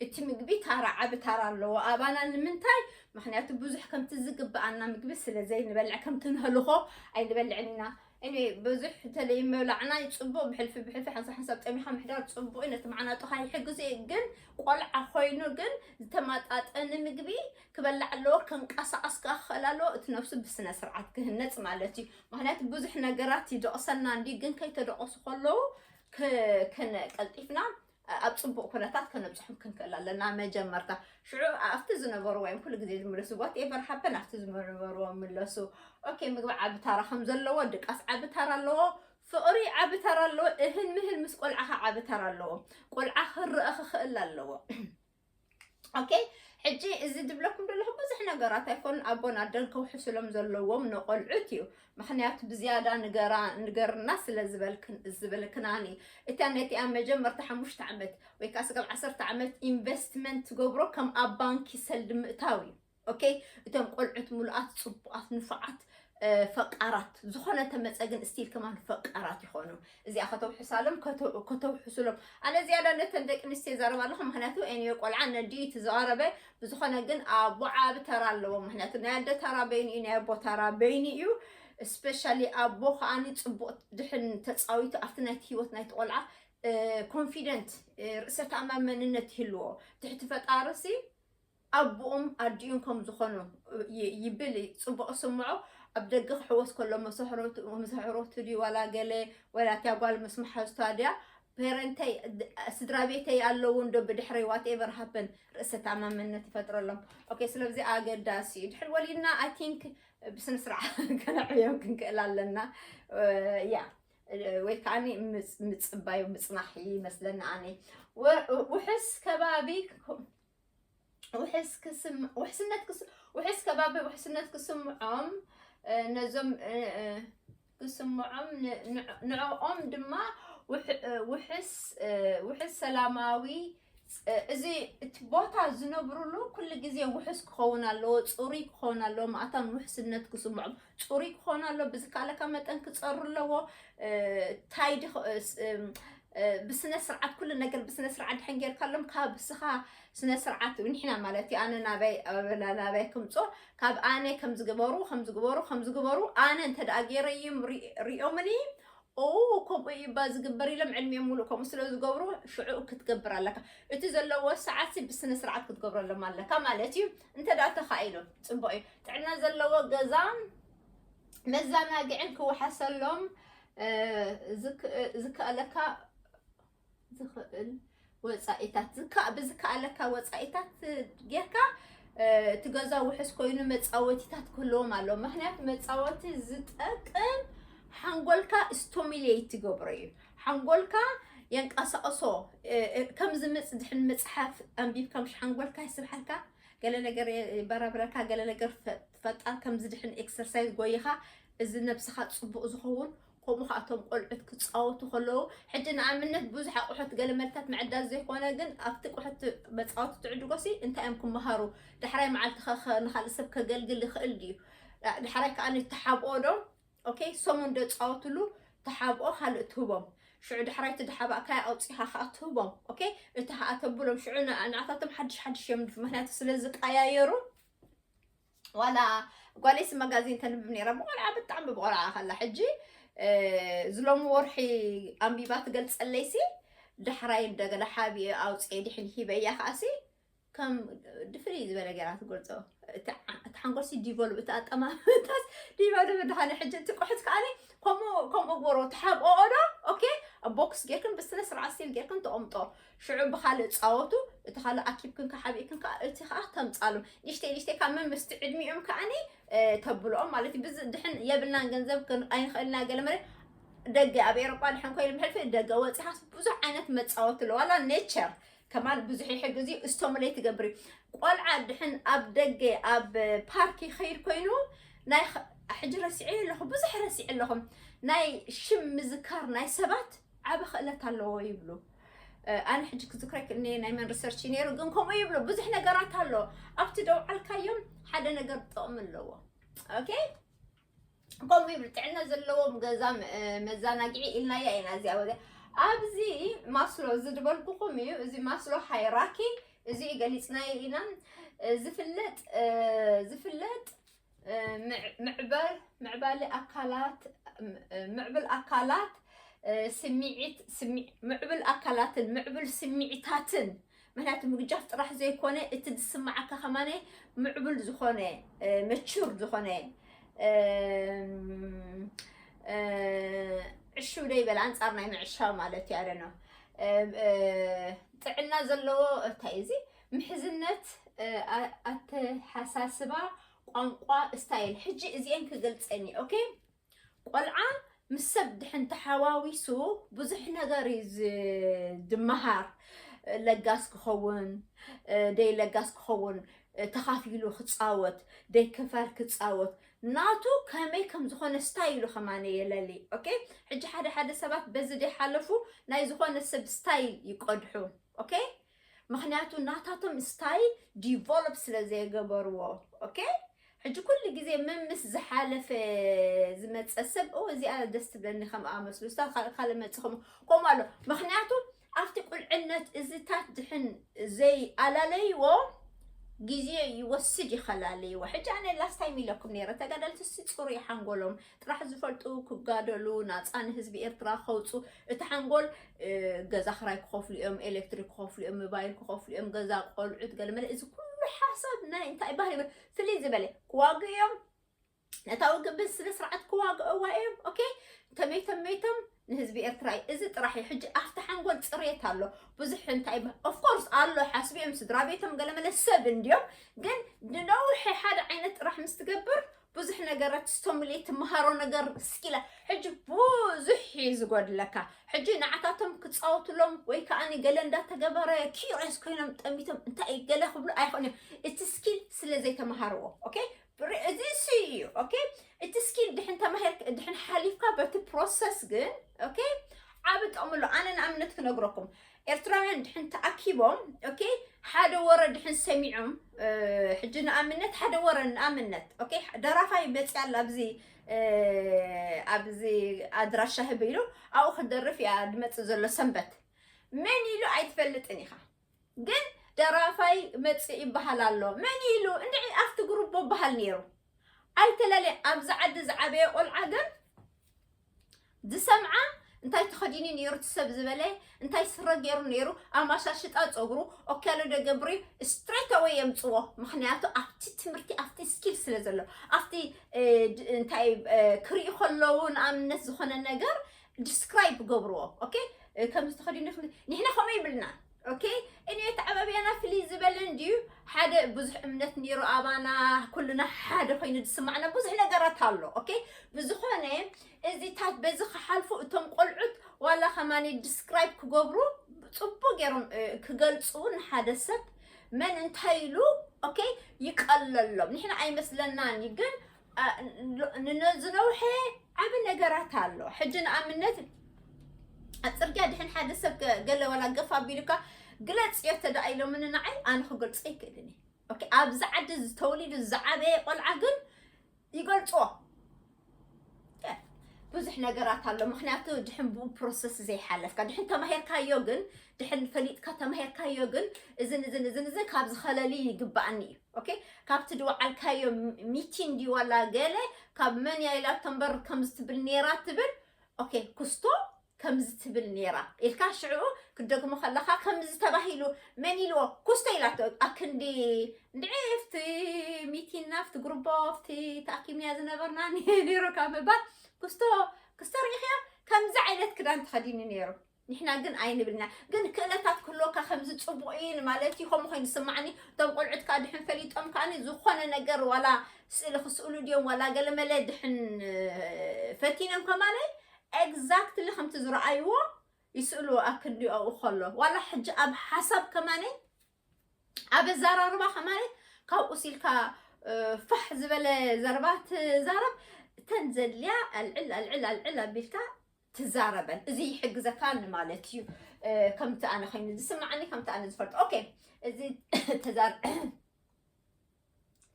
እቲ ምግቢ ታራ ዓቢ ታራ ኣለዎ ኣባና ንምንታይ ምክንያቱ ብዙሕ ከምቲ ዝግብኣና ምግቢ ስለ ዘይንበልዕ ከምቲ ንህልኾ ኣይንበልዕን ኢና Anyway ብዙሕ ተለይ ምብላዕና ጽቡቅ ብሕልፊ ብሕልፊ ሓንሳብ ሓንሳብ ጠሚኻ ምሕዳር ጽቡቅ እዩ ነቲ መዓናጡኻ ይሕግዝ እዩ ግን ቆልዓ ኮይኑ ግን ዝተማጣጠኒ ምግቢ ክበላዕ ኣለዎ ከንቀሳቀስ ከዓ ክኽእል ኣለዎ እቲ ነብሱ ብስነ ስርዓት ክህነጽ ማለት እዩ ምክንያቱ ብዙሕ ነገራት ይደቕሰና እንዲ ግን ከይተደቐሱ ከለዉ ቀልጢፍና ኣብ ፅቡቕ ኩነታት ከነብፅሑም ክንክእል ኣለና መጀመርታ ሽዑ ኣብቲ ዝነበሩ ወይም ኩሉ ግዜ ዝምለሱ ዋት ኤቨር ሃፐን ኣብቲ ዝነበርዎ ምለሱ ኦኬ ምግቢ ዓቢ ታራ ከም ዘለዎ ድቃስ ዓቢ ታራ ኣለዎ ፍቕሪ ዓቢ ታራ ኣለዎ እህል ምህል ምስ ቆልዓኻ ዓቢ ታራ ኣለዎ ቆልዓ ክረአ ክኽእል ኣለዎ ኦኬ ሕጂ እዚ ዝብለኩም ዘለኹ ብዙሕ ነገራት ኣይኮኑን ኣቦን ኣደን ከውሕስሎም ዘለዎም ንቆልዑት እዩ ምክንያቱ ብዝያዳ ንገራ ንገርና ስለ ዝበልክናኒ እታ ነቲኣ መጀመርታ ሓሙሽተ ዓመት ወይ ከዓ ስጋብ ዓሰርተ ዓመት ኢንቨስትመንት ትገብሮ ከም ኣብ ባንኪ ሰልዲ ምእታው እዩ ኦኬ እቶም ቆልዑት ምሉኣት ጽቡቓት ንፉዓት ፈቃራት ዝኾነ ተመፀ ግን ስቲል ከማን ፈቃራት ይኾኑ እዚኣ ከተውሕሳሎም ከተውሕሱሎም ኣነ ዝያዳ ነተን ደቂ ኣንስትዮ ይዛረብ ኣለኹ ምክንያቱ ኤንዮ ቆልዓ ነዲ ትዘረበ ብዝኾነ ግን ኣቦ ዓቢ ተራ ኣለዎ ምክንያቱ ናይ ኣደ ተራ በይኑ እዩ ናይ ኣቦ ተራ በይኑ እዩ ስፔሻሊ ኣቦ ከዓኒ ፅቡቅ ድሕን ተፃዊቱ ኣብቲ ናይቲ ሂወት ናይቲ ቆልዓ ኮንፊደንት ርእሰ ተኣማመንነት ይህልዎ ትሕቲ ፈጣርሲ ኣቡኡም ኣዲኡን ከም ዝኾኑ ይብል ጽቡቕ ይስምዖ ኣብ ደገ ክሕወስ ከሎ መሰሕሮቱ ድዩ ዋላ ገለ ዋላ እቲያ ጓል ምስ መሓዝቷ ድያ ፔረንተይ ስድራ ቤተይ ኣለዉ እንዶ ብድሕረይ ዋት ኤቨር ሃፐን ርእሰ ተኣማመነት ይፈጥረሎም ኦኬ ስለዚ ኣገዳሲ እዩ ድሕሪ ወሊድና ኣይ ቲንክ ብስነ ስርዓት ከነዕብዮም ክንክእል ኣለና ያ ወይ ከዓ ምፅባዩ ምፅናሕ ይመስለኒ ኣነ ውሕስ ከባቢ ውሕስ ክስም ውሕስነት ክስ ውሕስ ከባቢ ውሕስነት ክስምዖም ነዞም ክስምዖም ንዕኦም ድማ ውሕስ ውሕስ ሰላማዊ እዚ እቲ ቦታ ዝነብሩሉ ኩሉ ግዜ ውሕስ ክኸውን ኣለዎ፣ ፅሩይ ክኸውን ኣለዎ፣ ማእታን ውሕስነት ክስምዖም ፅሩይ ክኾን ኣሎ ብዝካለካ መጠን ክፀሩ ኣለዎ ታይ ብስነ ስርዓት ኩሉ ነገር ብስነ ስርዓት ድሕን ጌርካሎም ካብ ስኻ ስነ ስርዓት ንሕና ማለት እዩ ኣነ ናበይ ኣበላ ናበይ ክምፆ ካብ ኣነ ከም ዝግበሩ ከም ዝግበሩ ከም ዝግበሩ ኣነ እንተ ደኣ ገይረዮም ሪኦምኒ ኦ ከምኡ እዩ እባ ዝግበር ኢሎም ዕድሜኦም ሙሉእ ከምኡ ስለ ዝገብሩ ሽዑ ክትገብር ኣለካ እቲ ዘለዎ ሰዓት ብስነ ስርዓት ክትገብረሎም ኣለካ ማለት እዩ እንተ ደኣ ተኻኢሉ ጽቡቕ እዩ። ጥዕና ዘለዎ ገዛን መዘናግዕን ክወሓሰሎም ዝከኣለካ ዝኽእል ወጻኢታት ዝካእ ብዝከኣለካ ወጻኢታት ጌርካ እቲ ገዛ ውሕስ ኮይኑ መፃወቲታት ክህልዎም ኣለዎ ምክንያቱ መፃወቲ ዝጠቅም ሓንጎልካ ስቶሚሌት ትገብሮ እዩ ሓንጎልካ የንቃሳቕሶ ከምዚ ምጽ ድሕን ምጽሓፍ ኣንቢብካ ምሽ ሓንጎልካ ይስብሓልካ ገለ ነገር ይበራብረካ ገለ ነገር ፈጣር ከምዚ ድሕን ኤክሰርሳይዝ ጎይኻ እዚ ነብስኻ ጽቡቕ ዝኸውን ከምኡ ከዓ እቶም ቆልዑት ክፃወቱ ከለዉ ሕጂ ንኣብነት ብዙሕ ኣቑሑት ገለ መልታት ምዕዳል ዘይኮነ ግን ኣብቲ ቁሑት መፃወቲ ትዕድጎ ሲ እንታይ እዮም ክመሃሩ ዳሕራይ መዓልቲ ንካልእ ሰብ ከገልግል ይኽእል ድዩ ዳሕራይ ከዓ ተሓብኦ ዶ ኦኬ ሰሙን ዶ ጻወትሉ ተሓብኦ ካልእ ትህቦም ሽዑ ዳሕራይ እቲ ዳሓባእካያ ኣውጺኻ ከኣ ትህቦም ኦኬ እቲ ከኣ ተብሎም ሽዑ ንዓታቶም ሓድሽ ሓድሽ እዮም ምክንያቱ ስለ ዝቀያየሩ ዋላ ጓለይሲ መጋዚን ተንብብ ነይራ ብቆልዓ ብጣዕሚ ብቆልዓ ከላ ሕጂ ዝሎሚ ወርሒ ኣንቢባ ትገልጸለይሲ ዳሕራይ እንደገና ሓቢኤ ኣውጽኤ ድሕን ሂበያ ከኣሲ ከም ድፍሪ ዝበለ ገራ ትገልፆ እቲ ሓንጎልሲ ዲቨሉ እቲ ኣጠማምታስ ዲቨሉ ብድሓነ ሕጂ እቲ ቁሑት ከዓኒ ከምኡ ከምኡ ጎሮ ተሓብኦ ዶ ኦኬ ቦክስ ጌርክን ብስነ ስርዓት ሲል ጌርክን ተቐምጦ ሽዑ ብካልእ ፃወቱ እቲ ካልእ ኣኪብክን ካሓቢእክን ከዓ እቲ ከዓ ተምፃሉ ንእሽተይ ንእሽተይ ካብ መምስቲ ዕድሚኦም ከዓኒ ተብልኦም ማለት እዩ ብዚ ድሕን የብልናን ገንዘብ ኣይንኽእልና ገለ መለ ደገ ኣብ ኤሮጳ ድሕን ኮይኑ ብሕልፊ ደገ ወፂኻስ ብዙሕ ዓይነት መፃወቲ ኣለዋላ ኔቸር ከማን ብዙሕ ይሕግዝ እዩ እስቶምለይ ትገብሪ ቆልዓ ድሕን ኣብ ደገ ኣብ ፓርክ ይኸይድ ኮይኑ ናይ ሕጂ ረሲዐ ኣለኹ ብዙሕ ረሲዐ ኣለኹም ናይ ሽም ምዝካር ናይ ሰባት ዓበ ክእለት ኣለዎ ይብሉ ኣነ ሕጂ ክዝክረክ እኒ ናይ መን ሪሰርች ነይሩ ግን ከምኡ ይብሉ ብዙሕ ነገራት ኣሎ ኣብቲ ደውዓልካዮም ሓደ ነገር ጥቕሚ ኣለዎ ኦኬ ከምኡ ይብል ጥዕና ዘለዎም ገዛ መዘናግዒ ኢልናያ ኢና እዚኣ ወደ ኣብዚ ማስሎ እዚ ዝበልኩኹም እዩ እዚ ማስሎ ሃይራኪ እዚ እዩ ገሊፅናዮ ኢና ዝፍለጥ ዝፍለጥ ምዕበል ምዕባሊ ኣካላት ምዕብል ኣካላት ስምዒት ምዕብል ኣካላትን ምዕብል ስምዒታትን ምክንያቱ ምግጃፍ ጥራሕ ዘይኮነ እቲ ዝስማዓካ ከማነ ምዕቡል ዝኾነ መቹር ዝኾነ ዕሽው ደይበል ኣንፃር ናይ ምዕሻው ማለት እዩ ኣደነ ጥዕና ዘለዎ እንታይ እዚ ምሕዝነት ኣተሓሳስባ ቋንቋ ስታይል ሕጂ እዚኤን ክገልፀን እዩ ኦኬ ቆልዓ ምስ ሰብ ድሕን ተሓዋዊሱ ብዙሕ ነገር እዩ ዝመሃር ለጋስ ክኸውን ደይ ለጋስ ክኸውን ተኻፊሉ ክፃወት ደይ ክፋል ክፃወት ናቱ ከመይ ከም ዝኾነ ስታይሉ ከማነ የለሊ ኦኬ ሕጂ ሓደ ሓደ ሰባት በዚ ደይ ሓለፉ ናይ ዝኾነ ሰብ ስታይል ይቀድሑ ኦኬ ምክንያቱ ናታቶም ስታይል ዲቨሎፕ ስለ ዘይገበርዎ ኦኬ ሕጂ ኩሉ ግዜ ምምስ ዝሓለፈ ዝመፀ ሰብ ኦ እዚኣ ደስ ትብለኒ ከምኣ መስሉ ስታ ካልእ ካልእ መፅ ከምኡ ከምኡ ኣሎ ምክንያቱ ኣብቲ ቁልዕነት እዝታት ድሕን ዘይኣላለይዎ ግዜ ይወስድ ይኸላለይዎ ሕጂ ኣነ ላስታይም ኢለኩም ነይረ ተጋደልትሲ ፅሩይ ሓንጎሎም ጥራሕ ዝፈልጡ ክጋደሉ ናፃ ንህዝቢ ኤርትራ ከውፁ እቲ ሓንጎል ገዛ ክራይ ክኸፍሉ እዮም ኤሌክትሪክ ክኸፍሉ እዮም ሞባይል ክኸፍሉ እዮም ገዛ ቆልዑት ገለመለ እዚ ኩሉ ሓሳብ ናይ እንታይ ባህል ይብል ፍልይ ዝበለ ክዋግኡ እዮም ነታ ውግእ ብስነ ስርዓት ክዋግእዋ እዮም ኦኬ ተመይቶም መይቶም ንህዝቢ ኤርትራ እዩ እዚ ጥራሕ እዩ ሕጂ ኣብቲ ሓንጎል ፅሬት ኣሎ ብዙሕ እንታይ ኦፍኮርስ ኣሎ ሓስቢኦም ስድራ ቤቶም ገለመለ ሰብ እንድዮም ግን ንነውሒ ሓደ ዓይነት ጥራሕ ምስ ትገብር ብዙሕ ነገራት ስቶምሌ ትምሃሮ ነገር ስኪላ ሕጂ ብዙሕ እዩ ዝጎድለካ ሕጂ ንዓታቶም ክፃወትሎም ወይ ከዓ ገለ እንዳተገበረ ኪሪስ ኮይኖም ጠሚቶም እንታይ እዩ ገለ ክብሉ ኣይኽእሉ እቲ ስኪል ስለ ዘይተምሃርዎ ኦኬ እዚ እሱ እዩ ኦኬ እቲ ስኪል ድሕን ተማሂር ድሕን ሓሊፍካ በቲ ፕሮሰስ ግን ኦኬ ዓብ ጠምሎ ኣነ ንኣብነት ክነግረኩም ኤርትራውያን ድሕን ተኣኪቦም ኦኬ ሓደ ወረ ድሕን ሰሚዖም ሕጂ ንኣብነት ሓደ ወረ ንኣብነት ኦኬ ደራፋይ መፅያ ኣላ ኣብዚ ኣብዚ ኣድራሻ ህብ ኢሉ ኣብኡ ክደርፍ እያ ድመፅእ ዘሎ ሰንበት መን ኢሉ ኣይትፈልጥን ኢኻ ግን ደራፋይ መፅእ ይበሃል ኣሎ መን ኢሉ እንድዒ ኣብቲ ግሩቦ በሃል ነይሩ ኣይተለለ ኣብዚ ዓዲ ዝዓበየ ቆልዓ ግን ዝሰምዓ እንታይ ተኸዲኒ ነይሩ ትሰብ ዝበለ እንታይ ስረ ገይሩ ነይሩ ኣማሻሽጣ ፀጉሩ ኦካሎ ደገብሪ ስትሬት ኣወይ የምፅዎ ምክንያቱ ኣብቲ ትምህርቲ ኣብቲ ስኪል ስለ ዘሎ ኣብቲ እንታይ ክሪኡ ከለዉ ንኣብነት ዝኾነ ነገር ዲስክራይብ ገብርዎ ኦኬ ከምዚ ተኸዲኒ ንሕና ከምኡ ይብልና ኦኬ እንዮ ተዓባብያና ፍልይ ዝበለ እንድዩ ሓደ ብዙሕ እምነት ነይሩ ኣባና ኩልና ሓደ ኮይኑ ዝስማዕና ብዙሕ ነገራት ኣሎ ኦኬ ብዝኾነ እዚታት በዚ ክሓልፉ እቶም ቆልዑት ዋላ ከማኒ ዲስክራይብ ክገብሩ ፅቡቅ ገይሮም ክገልፁ ንሓደ ሰብ መን እንታይ ኢሉ ኦኬ ይቀለሎም ንሕና ኣይመስለናን እዩ ግን ንዝነውሐ ዓብ ነገራት ኣሎ ሕጂ ንኣብነት ፅርግያ ድሕን ሓደ ሰብ ገለ ዋላ ገፋ ኣቢሉካ ግለፅ እዮ ተደኣ ኢሎምኒ ንዓይ ኣነ ክገልፆ ይክእልን እየ ኣብዚ ዓዲ ዝተወሊዱ ዝዓበየ ቆልዓ ግን ይገልፅዎ ብዙሕ ነገራት ኣሎ ምክንያቱ ድሕን ብኡ ፕሮሰስ ዘይሓለፍካ ድሕን ተማሂርካዮ ግን ድሕን ፈሊጥካ ተማሂርካዮ ግን እዝን እዝን እዝን እዝን ካብ ዝኸለሊ ይግባእኒ እዩ ኦኬ ካብቲ ድወዓልካዮ ሚቲ እንዲ ዋላ ገለ ካብ መን እያ ኢላ ተንበር ከምዚ ትብል ነይራ ትብል ኦኬ ኩስቶ ከምዚ ትብል ነይራ ኢልካ ሽዑ ክደግሞ ከለካ ከምዚ ተባሂሉ መን ኢልዎ ኩስቶ ኢላቶ ኣክንዲ እንድዒ ፍቲ ሚቲና ፍቲ ጉርቦ ፍቲ ተኣኪምያ ዝነበርና ነይሩ ካብ ምባል ኩስቶ ክስቶ ርኢኽያ ከምዚ ዓይነት ክዳን ተኸዲኑ ነይሩ ንሕና ግን ኣይንብልን ኢና ግን ክእለታት ክህልወካ ከምዚ ጽቡቅ ኢዩ ንማለት ኢዩ ከምኡ ኮይኑ ዝስማዓኒ እቶም ቆልዑት ከኣ ድሕን ፈሊጦም ከኣ ዝኮነ ነገር ዋላ ስእሊ ክስእሉ ድዮም ዋላ ገለመለ ድሕን ፈቲኖም ከማለይ ኤግዛክትሊ ከምቲ ዝረኣይዎ ይስእልዎ ኣብ ክንዲ ኣብኡ ከሎ ዋላ ሕጂ ኣብ ሓሳብ ከማለይ ኣብ ኣዘራርባ ከማለይ ካብኡ ሲልካ ፋሕ ዝበለ ዘረባ ትዛረብ ተን ዘድልያ ኣልዕል ኣልዕል ኣልዕል ኣቢልካ ትዛረበን እዚ ይሕግዘካ ንማለት እዩ ከምቲ ኣነ ኮይኑ ዝስማዓኒ ከምቲ ኣነ ዝፈልጦ ኦኬ እዚ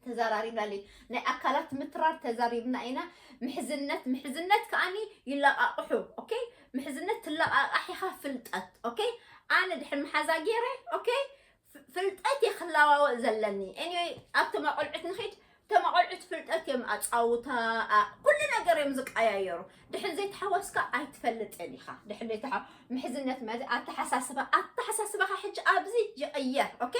ተዛራሪብና ኣለይ ናይ ኣካላት ምትራር ተዛሪብና ኢና ምሕዝነት ምሕዝነት ከዓኒ ይለቃቕሑ ኦኬ ምሕዝነት ትለቃቃሕ ኢኻ ፍልጠት ኦኬ ኣነ ድሕር መሓዛ ገይረ ኦኬ ፍልጠት እየ ክለዋወጥ ዘለኒ ኤኒወይ ኣብቶም ኣቆልዑት ንኺድ እቶም ኣቆልዑት ፍልጠት እዮም ኣፃውታ ኩሉ ነገር እዮም ዝቀያየሩ ድሕሪ ዘይተሓወስካ ኣይትፈልጥን ኢኻ ድሕሪ ዘይተሓ ምሕዝነት ማለት ኣተሓሳስባ ኣተሓሳስባኻ ሕጂ ኣብዚ ይቕየር ኦኬ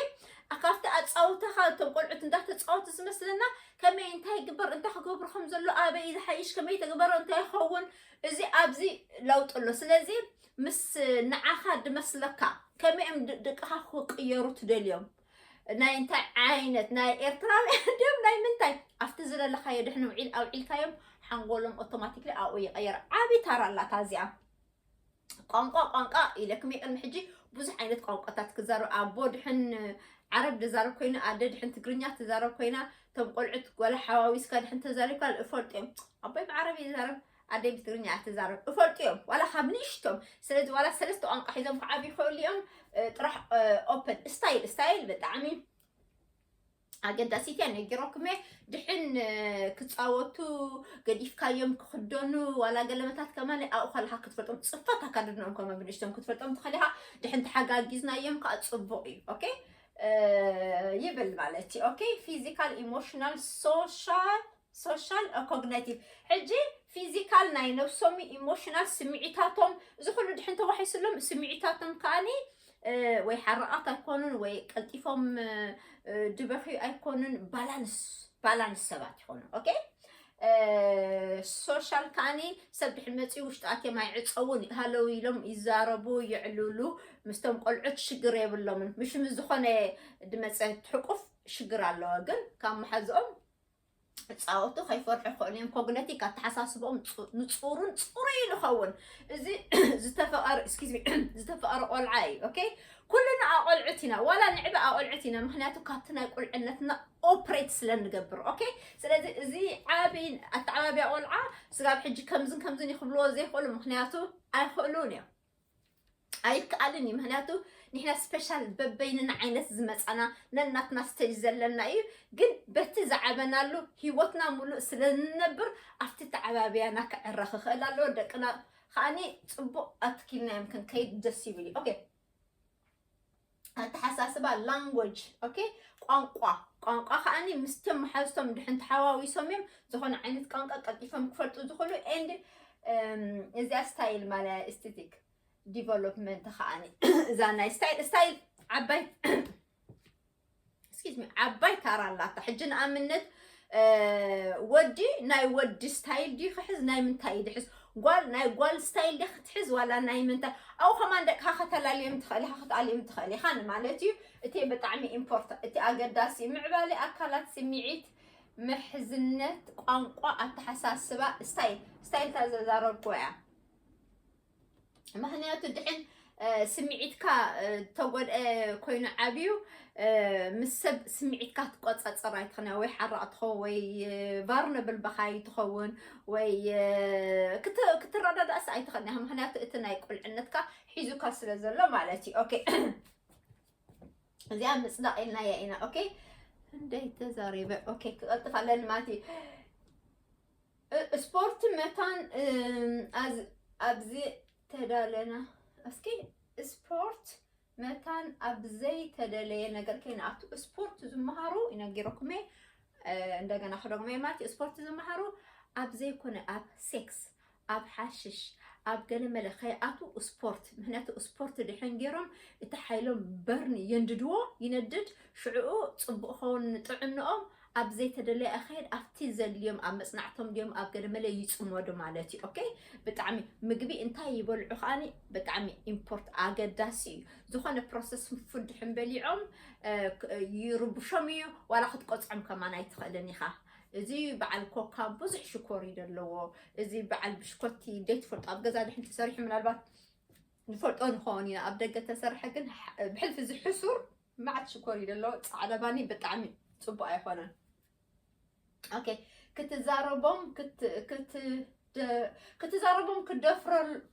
ካብቲ ኣፃውታኻ እቶም ቆልዑት እንዳተፃወቱ ዝመስለና ከመይ እንታይ ግበር እንታይ ክገብሩ ከም ዘሎ ኣበይ ዝሓይሽ ከመይ ተግበሮ እንታይ ይኸውን እዚ ኣብዚ ለውጢ ኣሎ ስለዚ ምስ ንዓኻ ድመስለካ ከመይም ድቅኻ ክቅየሩ ትደልዮም ናይ እንታይ ዓይነት ናይ ኤርትራውያን ድም ናይ ምንታይ ኣብቲ ዝደለኻዮ ድሕን ውዒል ኣውዒልካዮም ሓንጎሎም ኦቶማቲክሊ ኣብኡ ይቀየር ዓብዪ ታራ ኣላታ እዚኣ ቋንቋ ቋንቋ ኢለክም ቅድሚ ሕጂ ብዙሕ ዓይነት ቋንቋታት ክዛረብ ኣቦ ድሕን ዓረብ ድዛረብ ኮይኑ ኣደ ድሕን ትግርኛ ትዛረብ ኮይና እቶም ቆልዑት ጓላ ሓዋዊስካ ድሕን ተዛሪብካ እፈልጥ እዮም ኣቦይ ብዓረብ ይዛረብ ኣደይ ብትግርኛ እያ ትዛረብ እፈልጡ እዮም ዋላ ካብ ንእሽቶም ስለዚ ዋላ ሰለስተ ቋንቋ ሒዞም ክዓብ ይኽእሉ እዮም ጥራሕ ኦፐን ስታይል ስታይል ብጣዕሚ ኣገዳሲት እያ ነጊሮኩም እየ ድሕን ክፃወቱ ገዲፍካዮም ክክደኑ ዋላ ገለመታት ከማን ኣብኡ ከለካ ክትፈልጦም ፅፈት ኣካድድኖም ከመ ብንሽቶም ክትፈልጦም ትኽእል ኢኻ ድሕን ተሓጋጊዝናዮም ከዓ ፅቡቅ እዩ ኦኬ ይብል ማለት እዩ ኦኬ ፊዚካል ኢሞሽናል ሶሻል ሶሻል ኦኮግነቲቭ ሕጂ ፊዚካል ናይ ነብሶም ኢሞሽናል ስምዒታቶም እዚ ኩሉ ድሕን ተዋሒስሎም ስምዒታቶም ከዓኒ ወይ ሓራቓት ኣይኮኑን ወይ ቀልጢፎም ድበኽዩ ኣይኮኑን ባላንስ ባላንስ ሰባት ይኾኑ ኦኬ ሶሻል ከዓኒ ሰብ ድሕሪ መፅኡ ውሽጢ ኣትዮም ኣይዕፀውን ሃለው ኢሎም ይዛረቡ ይዕልሉ ምስቶም ቆልዑት ሽግር የብሎምን ምሽ ምስ ዝኾነ ድመፀ ትሕቁፍ ሽግር ኣለዎ ግን ካብ መሓዝኦም ፃወቱ ከይፈርሑ ክኾኑ እዮም ኮግነቲክ ኣተሓሳስቦኦም ንፁሩን ፅሩይ ንኸውን እዚ ዝተፈቐረ ስኪዝሚ ዝተፈቐረ ቆልዓ እዩ ኦኬ ኩልና ኣቆልዑት ኢና ዋላ ንዕበ ኣቆልዑት ኢና ምክንያቱ ካብቲ ናይ ቁልዕነትና ኦፕሬት ስለ ንገብር ኦኬ ስለዚ እዚ ዓብ ኣተዓባብያ ቆልዓ ስጋብ ሕጂ ከምዝን ከምዝን ይክብልዎ ዘይክእሉ ምክንያቱ ኣይክእሉን እዮም ኣይከኣልን እዩ ምክንያቱ ንሕና ስፔሻል በበይንና ዓይነት ዝመፃና ነናትና ስተጅ ዘለና እዩ ግን በቲ ዝዓበናሉ ሂወትና ሙሉእ ስለ ንነብር ኣብቲ ተዓባብያና ክዕረ ክኽእል ኣለዎ ደቅና ከዓኒ ፅቡቅ ኣትኪልናዮም ክንከይድ ደስ ይብል እዩ ኦኬ ኣተሓሳስባ ላንጎጅ ኦኬ ቋንቋ ቋንቋ ከዓኒ ምስቶም መሓዝቶም ድሕን ተሓዋዊሶም እዮም ዝኾነ ዓይነት ቋንቋ ቀልጢፎም ክፈልጡ ዝኽእሉ ኤንድ እዚኣ ስታይል ማለ ኤስቴቲክ ዲቨሎፕመንት ከዓኒ እዛ ናይ ስታይል ስታይል ዓባይ እስኪ ዓባይ ታራ ኣላታ ሕጂ ንኣብነት ወዲ ናይ ወዲ ስታይል ድዩ ክሕዝ ናይ ምንታይ እዩ ድሕዝ ጓል ናይ ጓል ስታይል ድያ ክትሕዝ ዋላ ናይ ምንታይ ኣብኡ ከማን ደቅካ ከተላልዮም ትኽእል ኢኻ ክትኣልዮም ትኽእል ኢኻ ንማለት እዩ እቲ ብጣዕሚ ኢምፖርት እቲ ኣገዳሲ ምዕባለ ኣካላት ስምዒት ምሕዝነት ቋንቋ ኣተሓሳስባ ስታይል ስታይል ታዘዛረብኩ እያ ምክንያቱ ድሕን ስምዒትካ ተጎድአ ኮይኑ ዓብዩ ምስ ሰብ ስምዒትካ ትቆፃፀር ኣይትኽነ ወይ ሓራቕ ትኸውን ወይ ቫርነብል በኻይ ትኸውን ወይ ክትረዳዳእስ ኣይትኽእልን ኢኻ ምክንያቱ እቲ ናይ ቁልዕነትካ ሒዙካ ስለ ዘሎ ማለት እዩ ኦኬ እዚኣ ምፅዳቕ ኢልናያ ኢና ኦኬ እንደይ ተዛሪበ ኦኬ ክቐልጥፍ ኣለኒ ማለት እዩ ስፖርት መታን ኣብዚ ተዳለና እስኪ ስፖርት መታን ኣብ ዘይተደለየ ነገር ከይንኣቱ ስፖርት ዝመሃሩ ይነጊረኩም እየ እንደገና ክደግሞ እየ ማለት ስፖርት ዝመሃሩ ኣብ ዘይኮነ ኣብ ሴክስ ኣብ ሓሽሽ ኣብ ገለ መለ ከይኣቱ ስፖርት ምክንያቱ ስፖርት ድሕን ገይሮም እቲ ሓይሎም በርን የንድድዎ ይነድድ ሽዕኡ ፅቡቅ ኸውን ጥዕንኦም ኣብ ዘይተደለየ ኣካየድ ኣብቲ ዘድልዮም ኣብ መጽናዕቶም ድዮም ኣብ ገደመለ ይጽመዱ ማለት እዩ ኦኬ ብጣዕሚ ምግቢ እንታይ ይበልዑ ከዓኒ ብጣዕሚ ኢምፖርት ኣገዳሲ እዩ ዝኾነ ፕሮሰስ ፉድ ድሕን በሊዖም ይርብሾም እዩ ዋላ ክትቆጽዖም ከማን ኣይትኽእልን ኢኻ እዚ በዓል ኮካ ብዙሕ ሽኮር እዩ ዘለዎ እዚ በዓል ብሽኮቲ ዘይትፈልጦ ኣብ ገዛ ድሕን ተሰሪሑ ምናልባት ንፈልጦ ንኸውን ኢና ኣብ ደገ ተሰርሐ ግን ብሕልፊ እዚ ሕሱር ማዓት ሽኮር እዩ ደለዎ ፃዕዳ ባኒ ብጣዕሚ ፅቡቅ ኣይኮነን ኦኬ ክትዛረቦም ክትዛረቦም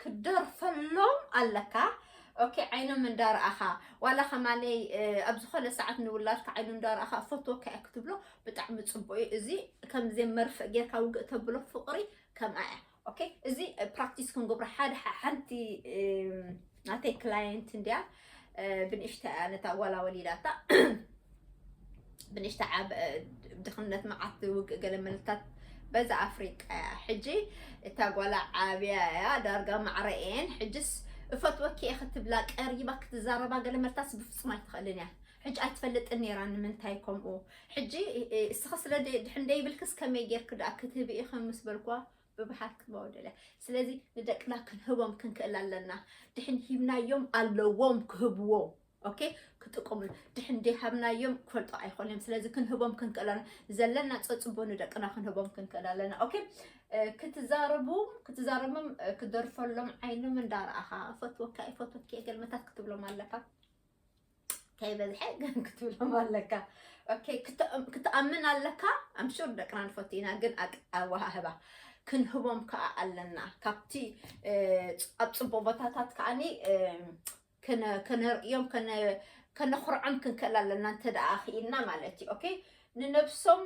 ክትደርፈሎም ኣለካ ኦኬ ዓይኖም እንዳረኣኻ ዋላ ከማለይ ኣብ ዝኾነ ሰዓት ንውላድካ ዓይኑ እንዳረኣኻ ፈትወካ እያ ክትብሎ ብጣዕሚ ፅቡቅ እዩ እዚ ከምዚ መርፍእ ጌርካ ውግእ ተብሎ ፍቅሪ ከምኣ እያ ኦኬ እዚ ፕራክቲስ ክንገብሮ ሓደ ሓንቲ ናተይ ክላየንት እንድያ ብንእሽተ ነታ ጓላ ወሊዳታ ብንእሽተ ዓብ ድኽነት መዓት ውግእ ገለ መልታት በዛ ኣፍሪቃ እያ ሕጂ እታ ጓላ ዓብያ እያ ዳርጋ ማዕረኤን ሕጅስ እፈትወኪ እየ ክትብላ ቀሪባ ክትዛረባ ገለ መልታስ ብፍፁም ኣይትኽእልን እያ ሕጂ ኣይትፈልጥን ኔራ ንምንታይ ከምኡ ሕጂ እስኺ ስለ ድሕን ደይብልክስ ከመይ ጌርኪ ደኣ ክትህቢ ኢኺ ምስ በልክዋ ብብሓት ክህባው ደልያ ስለዚ ንደቅና ክንህቦም ክንክእል ኣለና ድሕን ሂብናዮም ኣለዎም ክህብዎ ኦኬ ክጥቅሙ ድሕን ደይሃብናዮም ክፈልጦ ኣይኮነም ስለዚ ክንህቦም ክንክእል ኣለና ዘለና ፀፅቦ ንደቅና ክንህቦም ክንክእል ኣለና ኦኬ ክትዛረቡ ክትዛረቦም ክደርፈሎም ዓይኖም እንዳረኣኻ እፈትወካ እፈትወኪ ገልመታት ክትብሎም ኣለካ ከይበዝሐ ግን ክትብሎም ኣለካ ኦኬ ክትኣምን ኣለካ ኣምሹር ደቅና ንፈቱ ኢና ግን ኣወሃህባ ክንህቦም ከዓ ኣለና ካብቲ ኣብ ፅቡቅ ቦታታት ከዓኒ ከነርእዮም ከነኹርዖም ክንክእል ኣለና እንተ ደኣ ክኢልና ማለት እዩ ኦኬ ንነብሶም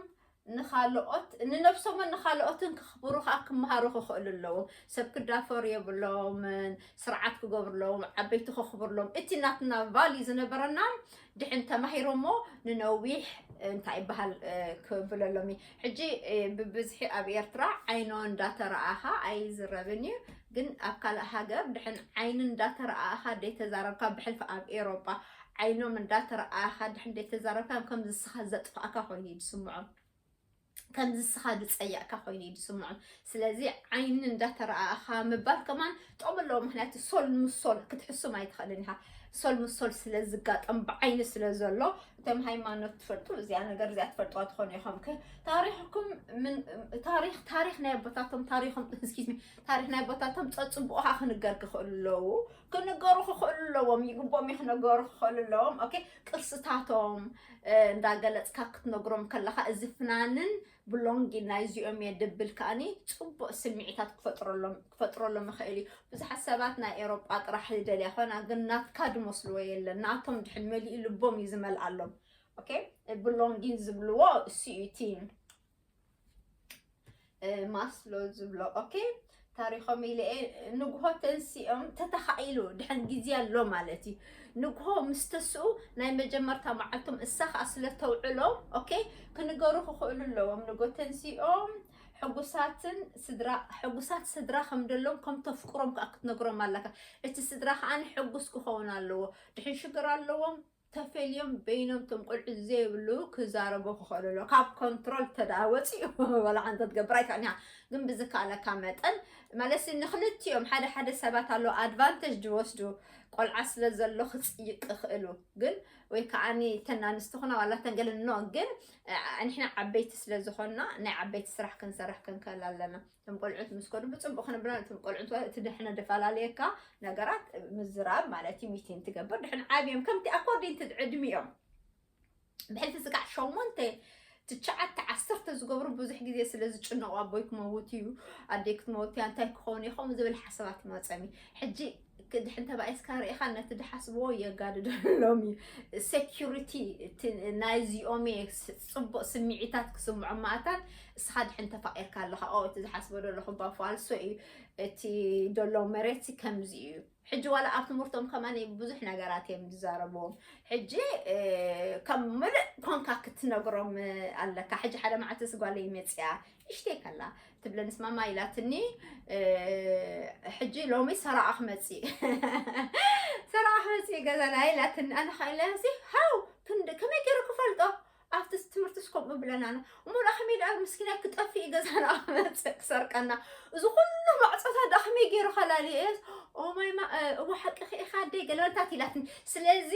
ንኻልኦት ንነብሶምን ንኻልኦትን ክኽብሩ ከኣ ክመሃሩ ክኽእሉ ኣለዎም። ሰብ ክዳፈሩ የብሎምን፣ ስርዓት ክገብሩሎም፣ ዓበይቲ ከኽብሩሎም፣ እቲ ናትና ቫልዩ ዝነበረና ድሕን ተማሂሮሞ ንነዊሕ እንታይ ይበሃል ክብለሎም እዩ። ሕጂ ብብዝሒ ኣብ ኤርትራ ዓይኖ እንዳተረኣኻ ኣይዝረብን እዩ። ግን ኣብ ካልእ ሃገር ድሕን ዓይኒ እንዳተረኣኻ ደይተዛረብካ ብሕልፊ ኣብ ኤሮጳ ዓይኖም እንዳ ተረኣኣኻ ድሕን ደይ ተዛረብካ ከም ዝስኻ ዘጥፋእካ ኮይኑ እዩ ዝስምዖም ከም ዝስኻ ዝጸያእካ ኮይኑ እዩ ዝስምዖም ስለዚ ዓይኒ እንዳ ተረኣኣኻ ምባል ከማን ጥቕሚ ኣለዎ ምክንያቱ ሶል ምስ ሶል ክትሕሱም ኣይትኽእልን ኢኻ ሶል ምስ ሶል ስለ ዝጋጠም ብዓይኒ ስለ ዘሎ እቶም ሃይማኖት ትፈልጡ እዚኣ ነገር እዚኣ ትፈልጥዋ ትኾኑ ኢኹም ታሪኽኩም ታሪኽ ታሪኽ ናይ ኣቦታቶም ታሪኽም ስኪዝሚ ታሪኽ ናይ ኣቦታቶም ጸጽቡቑኻ ክንገር ክኽእሉ ኣለዉ ክንገሩ ክኽእሉ ኣለዎም ይግቦም እዩ ክነገሩ ክኽእሉ ኣለዎም ኦኬ ቅርስታቶም እንዳገለፅካ ክትነግሮም ከለካ እዚ ፍናንን ብሎንጊ ናይ እዚኦም እየ ድብል ከዓኒ ፅቡቅ ስምዒታት ክፈጥረሎም ክፈጥረሎም ይኽእል እዩ ብዙሓት ሰባት ናይ ኤሮጳ ጥራሕ ዝደልያ ኮይና ግን ናትካ ድመስልዎ የለን ናቶም ድሕን መሊኡ ልቦም እዩ ዝመልኣሎም ኦኬ ብሎንጊን ዝብልዎ እሱ እዩ እቲ ማስሎ ዝብሎ ኦኬ ታሪኾም ኢለ ንግሆ ተንሲኦም ተተኻኢሉ ድሕን ግዜ ኣሎ ማለት እዩ ንግሆ ምስ ተስኡ ናይ መጀመርታ መዓልቶም እሳ ከዓ ስለ ተውዕሎ ኦኬ ክንገሩ ክኽእሉ ኣለዎም ንጎ ተንሲኦም ሕጉሳትን ስድራ ሕጉሳት ስድራ ከም ደሎም ከም ተፍቅሮም ከዓ ክትነግሮም ኣለካ እቲ ስድራ ከዓ ሕጉስ ክኸውን ኣለዎ ድሕን ሽግር ኣለዎም ተፈልዮም በይኖም ቶም ቆልዑ ዘይብሉ ክዛረቡ ክኸእሉ ኣሎ ካብ ኮንትሮል ተደኣ ወጺኡ ወላ ሓንቲ ክትገብር ኣይከኣልን ኢኻ ግን ብዝከኣለካ መጠን ማለሲ ንክልቲኦም ሓደ ሓደ ሰባት ኣሎ ኣድቫንተጅ ዝወስዱ ቆልዓ ስለ ዘሎ ክጽይቅ ክኽእሉ ግን ወይ ከዓኒ ተን ኣንስቲ ኹና ዋላ ተንገልን ኖ ግን ንሕና ዓበይቲ ስለ ዝኾንና ናይ ዓበይቲ ስራሕ ክንሰርሕ ክንከል ኣለና እቶም ቆልዑት ምስ ከዱ ብፅቡቅ ክንብላ እቶም ቆልዑት እቲ ድሕነ ደፈላለየካ ነገራት ምዝራብ ማለት እዩ ሚቲን ትገብር ድሕን ዓብዮም ከምቲ ኣኮርዲን እቲ ዕድሚኦም ብሕልቲ ስጋዕ ሸሞንተ ትሽዓተ ዓሰርተ ዝገብሩ ብዙሕ ግዜ ስለ ዝጭነቑ ኣቦይ ክመውት እዩ ኣደይ ክትመውት እያ እንታይ ክኸውን እየ ከምኡ ዝብል ሓሳባት ይመፀም እዩ ሕጂ ድሕን ተባኢስካ ርኢኻ ነቲ ድሓስብዎ የጋድደሎም እዩ ሴኪሪቲ ናይዚኦም እየ ፅቡቅ ስምዒታት ክስምዖ ማእታት እስኻ ድሕን ተፋቂርካ ኣለኻ ኦ እቲ ዝሓስቦ ደለኹ ባ ፋልሶ እዩ እቲ ደሎ መሬት ከምዚ እዩ ሕጂ ዋላ ኣብ ትምህርቶም ከማ ብዙሕ ነገራት እዮም ዝዛረብዎም ሕጂ ከም ምልእ ኮንካ ክትነግሮም ኣለካ ሕጂ ሓደ መዓልቲ ስጓለይ መፅያ እሽተይ ከላ ትብለንስ ማማ ኢላትኒ ሕጂ ሎሚ ሰራዓ ክመፅእ ሰራዓ ክመፅእ ገዛና ኢላትኒ ኣነ ከዓ ኢለሲ ሃው ክንዲ ከመይ ገይሩ ክፈልጦ ኣብቲ ትምህርቲ ስከምኡ ብለና ነ እሞ ዳ ከመይ ዳ ምስኪና ክጠፍእ እዩ ገዛና ክመፅእ ክሰርቀና እዚ ኩሉ ማዕፆታት ዳ ከመይ ገይሩ ከላሊ እየስ ኦማይ ማ እወ ሓቂ ክኢኻ ኣደይ ገለበንታት ኢላትኒ ስለዚ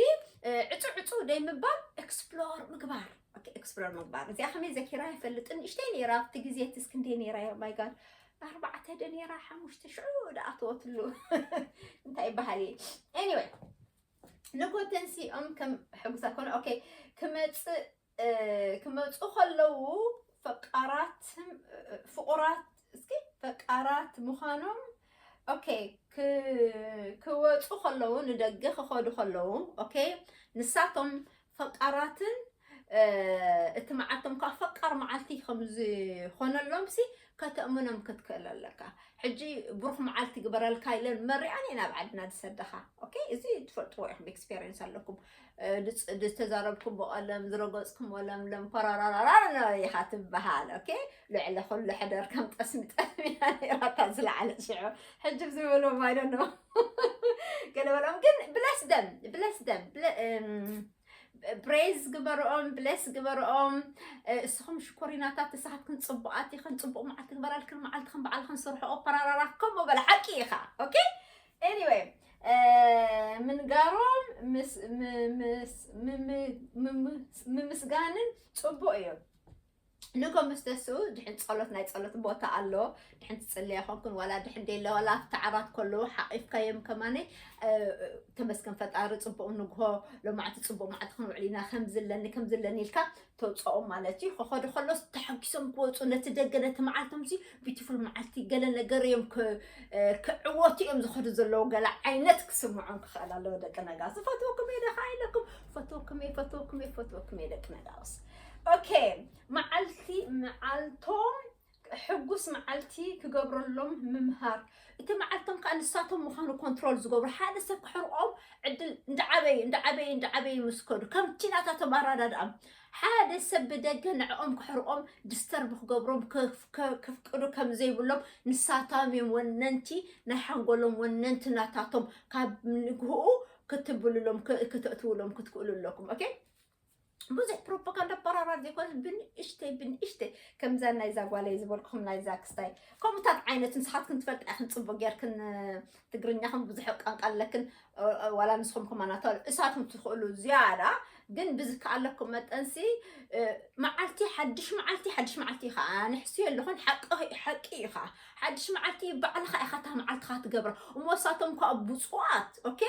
ዕፁ ዕፁ ደይ ምባል ኤክስፕሎር ምግባር ኤክስፕሎር ምግባር እዚኣ ከመይ ዘኪራ ይፈልጥን ንእሽተይ ነይራ ኣብቲ ግዜ ትስ ክንደይ ነይራ ዮ ማይጋድ ኣርባዕተ ደ ነይራ ሓሙሽተ ሽዑ ደኣተወትሉ እንታይ ይበሃል እየ ኤኒወይ ንኮተንሲኦም ከም ሕጉሳ ኮነ ኦኬ ክመፅእ ክመፁ ከለዉ ፈቃራት ፍቁራት እስኪ ፈቃራት ምዃኖም ኦኬ ክወፁ ከለዉ ንደገ ክኸዱ ከለዉ ኦኬ ንሳቶም ፈቃራትን እቲ መዓልቶም ከዓ ፈቃር መዓልቲ ከምዝኾነሎምሲ ከተእምኖም ክትክእል ኣለካ ሕጂ ብሩኽ መዓልቲ ግበረልካ ኢለን መሪኣን እየን ኣብ ዓድና ዝሰደኻ ኦኬ እዚ ትፈልጥዎ ኢኹም ኤክስፔሪንስ ኣለኩም ዝተዛረብኩም ብቐለም ዝረገፅኩም ለምለም ኮራራራራ ኢኻ ትበሃል ኦኬ ልዕሊ ኩሉ ሕደር ከም ጠስሚ ጠስሚ ኢያ ነይራታ ዝለዓለ ሽዑ ሕጂ ዝብሉ ማይዶ ገለ በልኦም ግን ብለስ ደም ብለስ ደም ብሬዝ ግበርኦም ብለስ ግበርኦም እስኹም ሽኮሪናታት ንስኻትክን ፅቡቃት ኢኽን ፅቡቅ መዓልቲ ግበራልክን መዓልትኽን በዓልኽን ስርሖኦ ፓራራራ ከምኡ በለ ሓቂ ኢኻ ኦኬ ኤኒዌይ ምንጋሮም ምምስጋንን ፅቡቅ እዩ ንጎ ምስ ተስኡ ድሕን ጸሎት ናይ ጸሎት ቦታ ኣሎ ድሕን ትጽልያ ኮንኩን ዋላ ድሕን ደለ ዋላ ኣብቲ ዓራት ከለዉ ሓቂፍካዮም ከማነይ ተመስገን ፈጣሪ ጽቡቕ ንግሆ ሎማዕቲ ጽቡቕ ማዕቲ ክንውዕል ኢና ከምዚ ኣለኒ ከምዚ ኣለኒ ኢልካ ተውፅኦም ማለት እዩ ከኸዱ ከሎስ ተሓጒሶም ክወፁ ነቲ ደገ ነቲ መዓልቶም ሲ ቢዩቲፉል መዓልቲ ገለ ነገር እዮም ክዕወቱ እዮም ዝኸዱ ዘለዉ ገለ ዓይነት ክስምዖም ክኽእል ኣለዎ ደቂ ነጋ ዝፈትወኩም እየ ደኻ ኢለኩም ፈትወኩም እየ ፈትወኩም እየ ፈትወኩም እየ ደቂ ነጋውስ ኦኬ መዓልቲ መዓልቶም ሕጉስ መዓልቲ ክገብረሎም ምምሃር እቲ መዓልቶም ከዓ ንሳቶም ምዃኑ ኮንትሮል ዝገብሩ ሓደ ሰብ ክሕርቆም ዕድል እንዳዓበዩ እንዳዓበዩ እንዳዓበዩ ምስ ከዱ ከምቲ ናታቶም ኣረዳድኣ ሓደ ሰብ ብደገ ንዕኦም ክሕርቆም ዲስተርብ ክገብሮም ክፍ- ከ- ክፍቅዱ ከም ዘይብሎም ንሳቶም እዮም ወነንቲ ናይ ሓንጎሎም ወነንቲ ናታቶም ካብ ንግህኡ ክትብልሎም ክ- ክተእትውሎም ክትክእሉ ኣለኩም ኦኬ ብዙሕ ፕሮፓጋንዳ ኣበራራር ዘይኮነ ብንእሽተይ ብንእሽተይ ከምዛ ናይዛ ጓለይ ዝበልኩኹም ናይዛ ክስታይ ከምኡታት ዓይነት ንስኻትክን ትፈልጣ ኢኽን ፅቡቅ ጌርክን ትግርኛኹም ብዙሕ ቋንቋ ኣለክን ዋላ ንስኹም ከማና ተል እሳትኩም ትኽእሉ ዝያዳ ግን ብዝከኣለኩም መጠንሲ መዓልቲ ሓድሽ መዓልቲ ሓድሽ መዓልቲ ኢኻ ንሕሱ የለኹን ሓቂ ሓቂ እዩ ከዓ ሓድሽ መዓልቲ ባዕልኻ ኢኻ እታ መዓልትኻ ትገብራ እሞ እሳቶም ከዓ ብፁዋት ኦኬ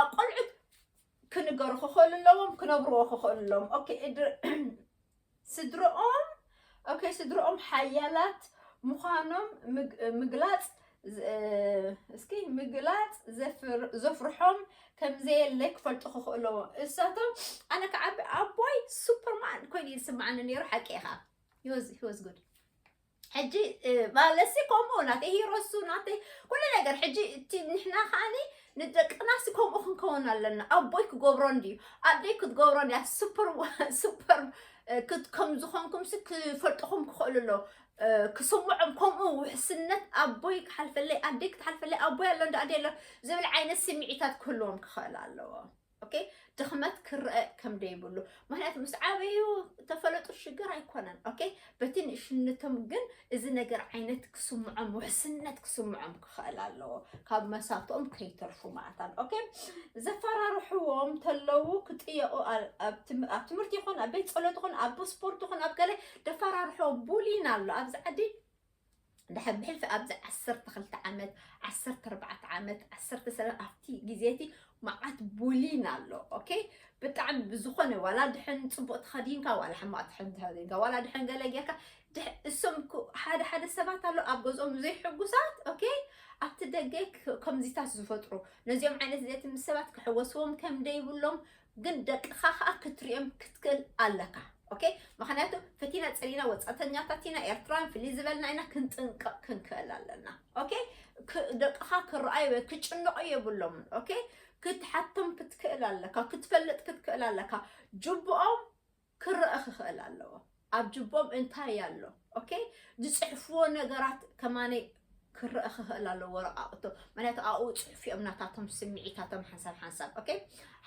ኣብ ቆልዑት ክንገሩ ክኸሉ ኣለዎም ክነብርዎ ክኸሉ ኣለዎም ኦኬ ስድርኦም ኦኬ ስድርኦም ሓያላት ምዃኖም ምግላፅ እስኪ ምግላፅ ዘፍርሖም ከምዘየለ ክፈልጡ ክኽእለዎ እሳቶም ኣነ ክዓቢ ኣቦይ ሱፐርማን ኮይኑ ይስምዓኒ ነይሩ ሓቂ ኢኻ ሂወዝ ጉድ ሕጂ ማለሲ ከምኡ ናተይ ሂሮሱ ናተይ ኩሉ ነገር ሕጂ እቲ ንሕና ከዓኒ ንደቅናሲ ከምኡ ክንከውን ኣለና ኣቦይ ክገብሮ እንድዩ ኣደይ ክትገብሮ እንድያ ሱፐር ሱፐር ከም ዝኾንኩምሲ ክፈልጥኹም ክኽእሉ ኣሎ ክስምዖም ከምኡ ውሕስነት ኣቦይ ክሓልፈለይ ኣደይ ክትሓልፈለይ ኣቦይ ኣሎ እንዳ ኣደይ ኣሎ ዝብል ዓይነት ስምዒታት ክህልዎም ክኽእል ኣለዎ ኦኬ ድኽመት ክረአ ከም ደይብሉ ምክንያቱ ምስ ዓበዩ ተፈለጡ ሽግር ኣይኮነን ኦኬ በቲ ንእሽነቶም ግን እዚ ነገር ዓይነት ክስምዖም ውሕስነት ክስምዖም ክኽእል ኣለዎ ካብ መሳቶም ከይተርፉ ማለታን ኦኬ ዘፈራርሕዎም ተለዉ ክጥየቑ ኣብ ትምህርቲ ይኹን ኣብ ቤት ፀሎት ይኹን ኣብ ስፖርት ይኹን ኣብ ገለ ደፈራርሕዎም ቡሊን ኣሎ ኣብዚ ዓዲ ድሕር ብሕልፊ ኣብዚ ዓሰርተ ክልተ ዓመት ዓሰርተ ኣርባዕተ ዓመት ዓሰርተ ሰለ ኣብቲ ግዜ እቲ መዓት ቡሊን ኣሎ ኦኬ ብጣዕሚ ብዝኾነ ዋላ ድሕን ፅቡቅ ተኸዲንካ ዋላ ሕማቅ ድሕን ተኸዲንካ ዋላ ድሕን ገለ ጌርካ ድሕ- እሶም እኮ ሓደ ሓደ ሰባት ኣሎ ኣብ ገዝኦም ዘይሕጉሳት ኦኬ ኣብቲ ደገ ክ- ከምዚታት ዝፈጥሩ ነዚኦም ዓይነት ዘቲ ምስ ሰባት ክሕወስዎም ከም ደይብሎም ግን ደቅኻ ከኣ ክትሪኦም ክትክእል ኣለካ ኦኬ ምክንያቱ ፈቲና ጸሊና ወጻተኛታት ኢና ኤርትራውያን ፍልይ ዝበልና ኢና ክንጥንቀቕ ክንክእል ኣለና ኦኬ ደቅኻ ክረኣዩ ወይ ክጭነቑ የብሎምን ኦኬ ክትሓቶም ክትክእል ኣለካ ክትፈልጥ ክትክእል ኣለካ ጅብኦም ክረኣ ክኽእል ኣለዎ ኣብ ጅቦም እንታይ ኣሎ ኦኬ ዝፅሕፍዎ ነገራት ከማነይ ክረኣ ክኽእል ኣለዎ ወረቃቅቶ ምክንያቱ ኣብኡ ፅሑፍ እዮም ናታቶም ስምዒታቶም ሓንሳብ ሓንሳብ ኦኬ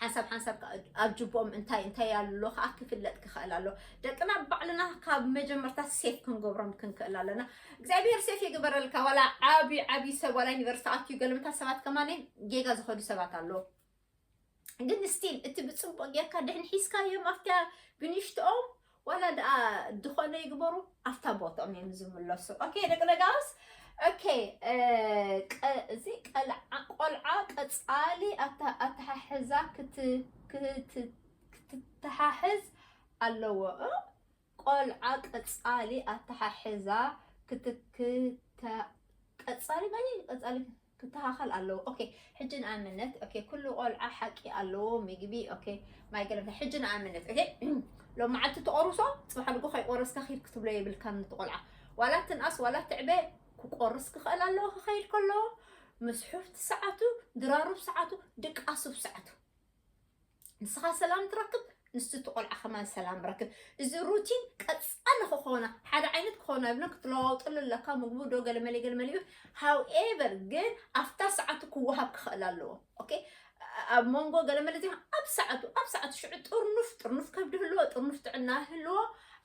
ሓንሳብ ሓንሳብ ከዓ ኣብ ጅቦም እንታይ እንታይ ኣሎ ከዓ ክፍለጥ ክኽእል ኣሎ ደቅና ባዕልና ካብ መጀመርታ ሴፍ ክንገብሮም ክንክእል ኣለና እግዚኣብሔር ሴፍ ይግበረልካ ዋላ ዓብዪ ዓብዪ ሰብ ዋላ ዩኒቨርስቲ ኣትዩ ገለምታ ሰባት ከማነይ ጌጋ ዝኸዱ ሰባት ኣለዉ ግን ስቲል እቲ ብፅቡቅ ጌርካ ድሕን ሒዝካዮም ኣብታ ብንሽትኦም ዋላ ድኣ ድኾነ ይግበሩ ኣብታ ቦትኦም እዮም ዝምለሱ ኦኬ ደቂ ደጋውስ ኦኬ እዚ ቀልዓ ቆልዓ ቀፃሊ ኣተሓሕዛ ክትተሓሕዝ ኣለዎ ቆልዓ ቀፃሊ ኣተሓሕዛ ክትክተ ቀፃሊ ቀፃሊ ክተኻኸል ኣለዎ ኦኬ ሕጂ ንኣምነት ኦኬ ኩሉ ቆልዓ ሓቂ ኣለዎ ምግቢ ኦኬ ማይ ገለምታ ሕጂ ንኣምነት ኦኬ ሎም መዓልቲ ተቆርሶ ፅባሕ ኣድጎ ከይቆረስካ ኪድ ክትብሎ የብልካ ንቲ ቆልዓ ዋላ ትንኣስ ዋላ ትዕበ ክቆርስ ክኽእል ኣለዎ ክኸይድ ከለዎ ምስ ሑፍቲ ሰዓቱ ድራሩ ሰዓቱ ድቃሱ ሰዓቱ ንስኻ ሰላም ትረክብ ንሱ እቲ ቆልዓ ከማን ሰላም ረክብ እዚ ሩቲን ቀፃሊ ክኾና ሓደ ዓይነት ክኾና ይብሎ ክትለዋውጠሉ ኣለካ ምግቡ ዶ ገለመለ ገለመለ ይብል ሃውኤቨር ግን ኣብታ ሰዓቱ ክወሃብ ክኽእል ኣለዎ ኦኬ ኣብ መንጎ ገለመለ ዚ ኣብ ሰዓቱ ኣብ ሰዓቱ ሽዑ ጥርኑፍ ጥርኑፍ ከብዲ ህልዎ ጥርኑፍ ጥዕና ህልዎ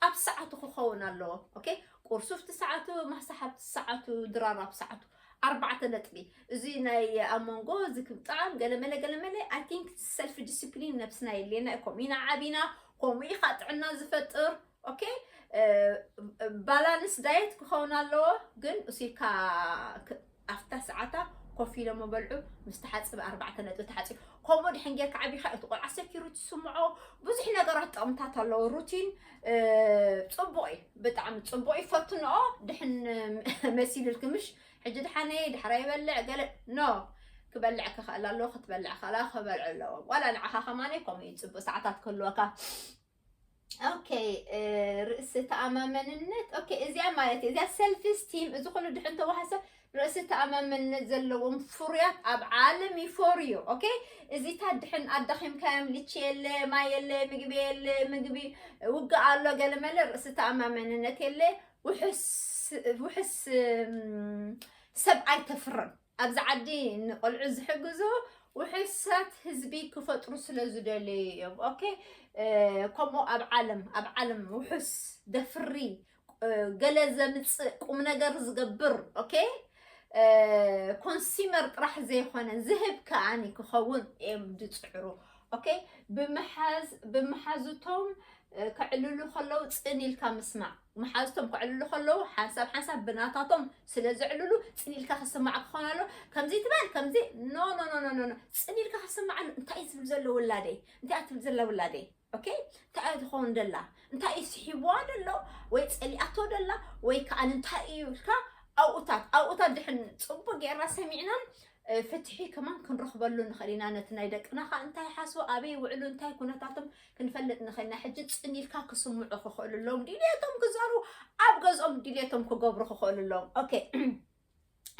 ኣብ ሰዓቱ ክኸውን ኣለዎ ኦኬ ቁርሱ ኣብቲ ሰዓቱ ማሕሳ ኣብቲ ሰዓቱ ድራር ኣብ ሰዓቱ ኣርባዕተ ነጥቢ እዚ ናይ ኣብ መንጎ እዚ ክብጣም ገለመለ ገለመለ ኣይ ቲንክ ሰልፊ ዲስፕሊን ነብስና የድልየና እዩ ከምኡ ኢና ዓቢና ከምኡ ኢኻ ጥዕና ዝፈጥር ኦኬ ባላንስ ዳየት ክኸውን ኣለዎ ግን እሱካ ኣብታ ሰዓታ ኮፍ ኢሎም በልዑ ምስ ተሓፅበ ኣርባዕተ ነጥቢ ተሓፂቡ ከምኡ ድሕን ጌርካ ዓቢኻ እቲ ቆልዓ ሴኪሪቲ ስምዖ ብዙሕ ነገራት ጥቕምታት ኣለዎ ሩቲን ፅቡቕ እዩ ብጣዕሚ ፅቡቕ እዩ ፈትንኦ ድሕን መሲልልክ ምሽ ሕጂ ድሓነ ድሕራ ይበልዕ ገለ ኖ ክበልዕ ክኽእል ኣለዎ ክትበልዕ ከላ ክበልዑ ኣለዎም ዋላ ንዓኻ ከማነ ከምኡ እዩ ፅቡቅ ሰዓታት ክህልወካ ኦኬ ርእሲ ተኣማመንነት ኦኬ እዚኣ ማለት እዩ እዚኣ ሰልፊ ስቲም እዚ ኩሉ ድሕን ተዋህሰ ርእሲ ተኣማመንነት ዘለዎም ፍሩያት ኣብ ዓለም ይፈርዩ ኦኬ እዚታት ድሕን ኣዳኺምካዮም ልቺ የለ ማይ የለ ምግቢ የለ ምግቢ ውግእ ኣሎ ገለመለ ርእሲ ተኣማመንነት የለ ውሕስ ሰብ ኣይተፍርን ኣብዚ ዓዲ ንቆልዑ ዝሕግዙ ውሕሳት ህዝቢ ክፈጥሩ ስለ ዝደለዩ እዮም ኦኬ ከምኡ ኣብ ዓለም ኣብ ዓለም ውሑስ ደፍሪ ገለ ዘምፅእ ቁም ነገር ዝገብር ኦኬ ኮንሲመር ጥራሕ ዘይኮነ ዝህብ ከዓኒ ክኸውን እዮም ዝፅዕሩ ኦኬ ብምሓዝ ብምሓዙቶም ከዕልሉ ከለዉ ፅን ኢልካ ምስማዕ መሓዝቶም ከዕልሉ ከለዉ ሓንሳብ ሓንሳብ ብናታቶም ስለ ዘዕልሉ ፅን ኢልካ ክስማዕ ክኾን ኣሎ ከምዚ ትበል ከምዚ ኖ ኖ ኖ ኖ ኖ ፅን ኢልካ ክስማዕ ኣሎ እንታይ እዩ ዝብል ዘሎ ውላደይ እንታይ እያ ትብል ዘላ ውላደይ ኦኬ እንታይ እያ ትኸውን ደላ እንታይ እዩ ስሒብዋ ደሎ ወይ ጸሊኣቶ ደላ ወይ ከዓ እንታይ እዩ ኢልካ ኣብኡታት ኣብኡታት ድሕን ጽቡቅ ጌርና ሰሚዕና ፍትሒ ከማን ክንረኽበሉ ንኽእል ኢና ነቲ ናይ ደቅና ከዓ እንታይ ሓስቡ ኣበይ ይውዕሉ እንታይ ኩነታቶም ክንፈልጥ ንኽእል ኢና ሕጂ ፅን ኢልካ ክስምዑ ክኽእሉ ኣለዎም ድልየቶም ክዛሩ ኣብ ገዝኦም ድልየቶም ክገብሩ ክኽእሉ ኣለዎም ኦኬ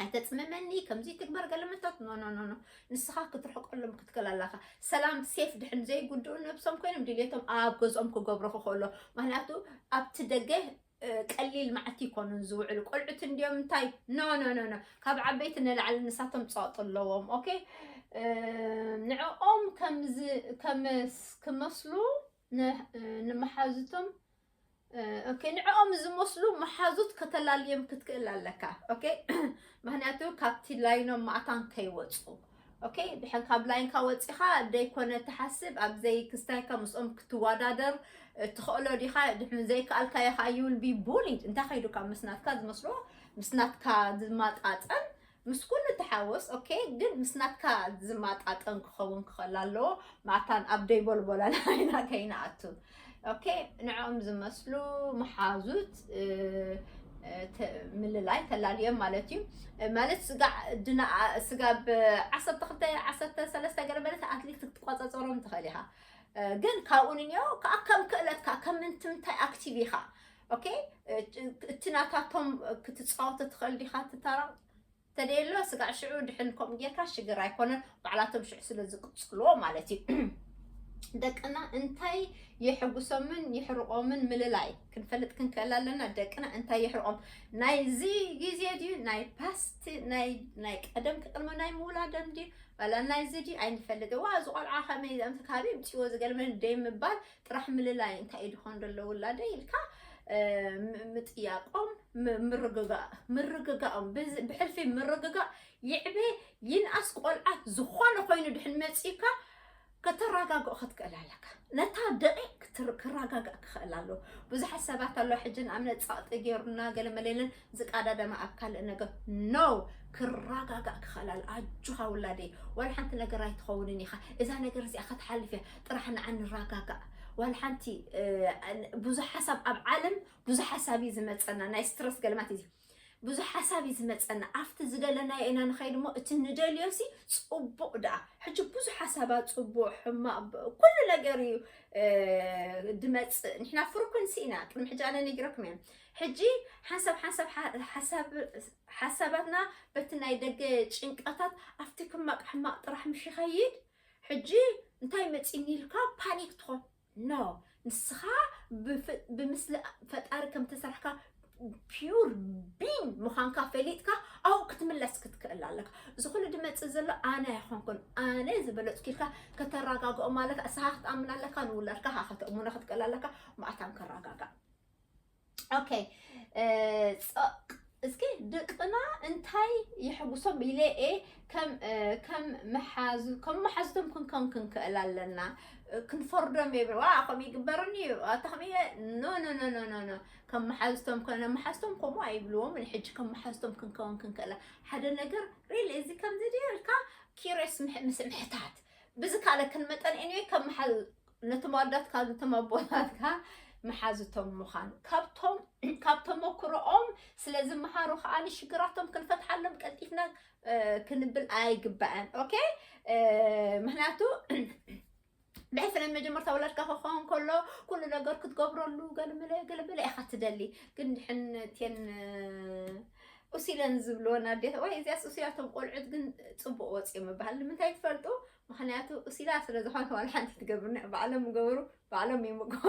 ኣይተፅምመኒ ከምዚ ትግበር ገለመታት ኖኖኖኖ ንስኻ ክትርሕቀሎም ክትክእል ኣለኻ ሰላም ሴፍ ድሕን ዘይጉድኡ ነብሶም ኮይኖም ድልቶም ኣብ ገዝኦም ክገብሩ ክኽእሎ ምክንያቱ ኣብቲ ደገ ቀሊል መዓልቲ ይኮኑን ዝውዕሉ ቆልዑት እንዲዮም እንታይ ኖኖኖኖ ካብ ዓበይቲ ንላዕሊ ንሳቶም ፀቕጢ ኣለዎም ኦኬ ንዕኦም ከም ክመስሉ ንመሓዙቶም ኦኬ ንዕኦም ዝመስሉ መሓዙት ከተላልዮም ክትክእል ኣለካ ኦኬ ምክንያቱ ካብቲ ላይኖም ማእታን ከይወፁ ኦኬ ድሕን ካብ ላይንካ ወፂኻ ዘይኮነ ትሓስብ ኣብ ዘይክስታይካ ምስኦም ክትወዳደር ትኽእሎ ዲኻ ድሕን ዘይከኣልካዮ ከዓ ይውል ቢ ቡሊድ እንታይ ከይዱካ ምስ ናትካ ዝመስሎ ምስ ናትካ ዝመጣጠን ምስ ኩሉ ተሓወስ ኦኬ ግን ምስ ናትካ ዝማጣጠን ክኸውን ክኸል ኣለዎ ማታን ኣብ ደይቦልቦላን ዓይና ከይንኣቱ ኦኬ ንዕኦም ዝመስሉ መሓዙት ምልላይ ተላልዮም ማለት እዩ ማለት ድና ስጋ ብ ዓሰርተ ክልተ ዓሰርተ ሰለስተ ገለ ማለት ኣትሊት ክትቆፀፀሮም ትኽእል ኢኻ ግን ካብኡ ንኒኦ ከዓ ከም ክእለትካ ከም ምንትምታይ ኣክቲቭ ኢኻ ኦኬ እቲ ናታቶም ክትፃወተ ትኽእል ዲኻ እቲ ታራ ተደየሎ ስጋዕ ሽዑ ድሕን ከምኡ ጌርካ ሽግር ኣይኮነን ባዕላቶም ሽዑ ስለ ዝቅፅልዎ ማለት እዩ ደቅና እንታይ የሕጉሶምን የሕርቆምን ምልላይ ክንፈልጥ ክንክእል ኣለና ደቅና እንታይ የሕርቆም ናይዚ ግዜ ድዩ ናይ ፓስት ናይ ቀደም ክቅድሚ ናይ ምውላደም ድዩ ዋላ ናይዚ ድዩ ኣይንፈልጥ ዋ እዚ ቆልዓ ከመይ ዘምቲ ካበይ ምፅዎ ዝገርመን ደይ ምባል ጥራሕ ምልላይ እንታይ ድኾን ደሎ ውላደይ ኢልካ ምጥያቆም ምርግጋእ ምርግጋኦም ብሕልፊ ምርግጋእ ይዕበ ይንኣስ ቆልዓ ዝኾነ ኮይኑ ድሕን መፂእካ ከተረጋግኦ ክትክእል ኣለካ ነታ ደቂቅ ክረጋጋእ ክኽእል ኣለዎ ብዙሓት ሰባት ኣሎ ሕጂ ንኣብነት ፃቕጢ ገይሩና ገለ መለለን ዝቃዳደመ ኣብ ካልእ ነገር no ክራጋጋእ ክኸላል ኣጆኻ ውላደይ ዋላ ሓንቲ ነገር ኣይትኸውንን ኢኻ እዛ ነገር እዚኣ ከትሓልፍ እያ ጥራሕ ንዓ ንራጋጋእ ዋላ ሓንቲ ብዙሕ ሓሳብ ኣብ ዓለም ብዙሕ ሓሳብ እዩ ዝመፀና ናይ ስትረስ ገልማት እዩ ብዙሕ ሓሳብ እዩ ዝመፀና ኣብቲ ዝደለናዮ ኢና ንኸይድ እሞ እቲ ንደልዮ ሲ ፅቡቅ ደኣ ሕጂ ብዙሕ ሓሳባ ፅቡቅ ሕማቅ ኩሉ ነገር እዩ ድመፅእ ንሕና ፍርኩንሲ ኢና ቅድሚ ሕጂ ኣነ ነጊረኩም እዮም ሕጂ ሓንሳብ ሓንሳብ ሓሳባትና በቲ ናይ ደገ ጭንቀታት ኣብቲ ሕማቕ ሕማቕ ጥራሕ ምሽ ይኸይድ ሕጂ እንታይ መፂኒ ኢልካ ፓኒክ ትኾን ኖ ንስኻ ብምስሊ ፈጣሪ ከም ተሰርሕካ ፒዩር ቢን ምዃንካ ፈሊጥካ ኣብኡ ክትምለስ ክትክእል ኣለካ እዚ ኩሉ ድመፅእ ዘሎ ኣነ ኣይኮንኩን ኣነ ዝበለፅኩ ኢልካ ከተረጋግኦም ኣለካ እሳኻ ክትኣምን ኣለካ ንውላድካ ካ ከተእሙኖ ክትክእል ኣለካ ማእታን ከረጋጋእ ኦኬ እስኪ ደቅና እንታይ ይሕጉሶም ኢለ እየ ከም መሓዙቶም ክንከም ክንክእል ኣለና ክንፈርዶም የብል ዋ ከምኡ ይግበርኒ እዩ ኣታ ከምየ ኖ ኖ ኖ ኖ ኖ ከም መሓዝቶም ከነ መሓዝቶም ከምኡ ኣይብልዎም ሕጂ ከም መሓዝቶም ክንከውን ክንክእላ ሓደ ነገር ሪል እዚ ከምዚ ድልካ ኪሬስ ምስ ምሕታት ብዚ ካልእ ክንመጠን ኤኒወይ ከም መሓዝ ነቶም ኣዳትካ ነቶም ኣቦታትካ መሓዙቶም ምዃን ካብቶም ካብ ተመክሮኦም ስለ ዝመሃሩ ከዓ ንሽግራቶም ክንፈትሓሎም ቀልጢፍና ክንብል ኣይግባእን ኦኬ ምክንያቱ ብሕፍረ መጀመርታ ወለድካ ክኸውን ከሎ ኩሉ ነገር ክትገብረሉ ገለመለ ገለመለ ኢኻ ትደሊ ግን ድሕን ቴን ኡሲለን ዝብልወን ኣዴት ወይ እዚያስ ኡሲላቶም ቆልዑት ግን ፅቡቅ ወፂኦም ይበሃል ንምንታይ ትፈልጡ ምክንያቱ እሲላ ስለ ዝኮነ ዋላ ሓንቲ ትገብርኒ ባዕሎም ይገብሩ ባዕሎም ይምገሩ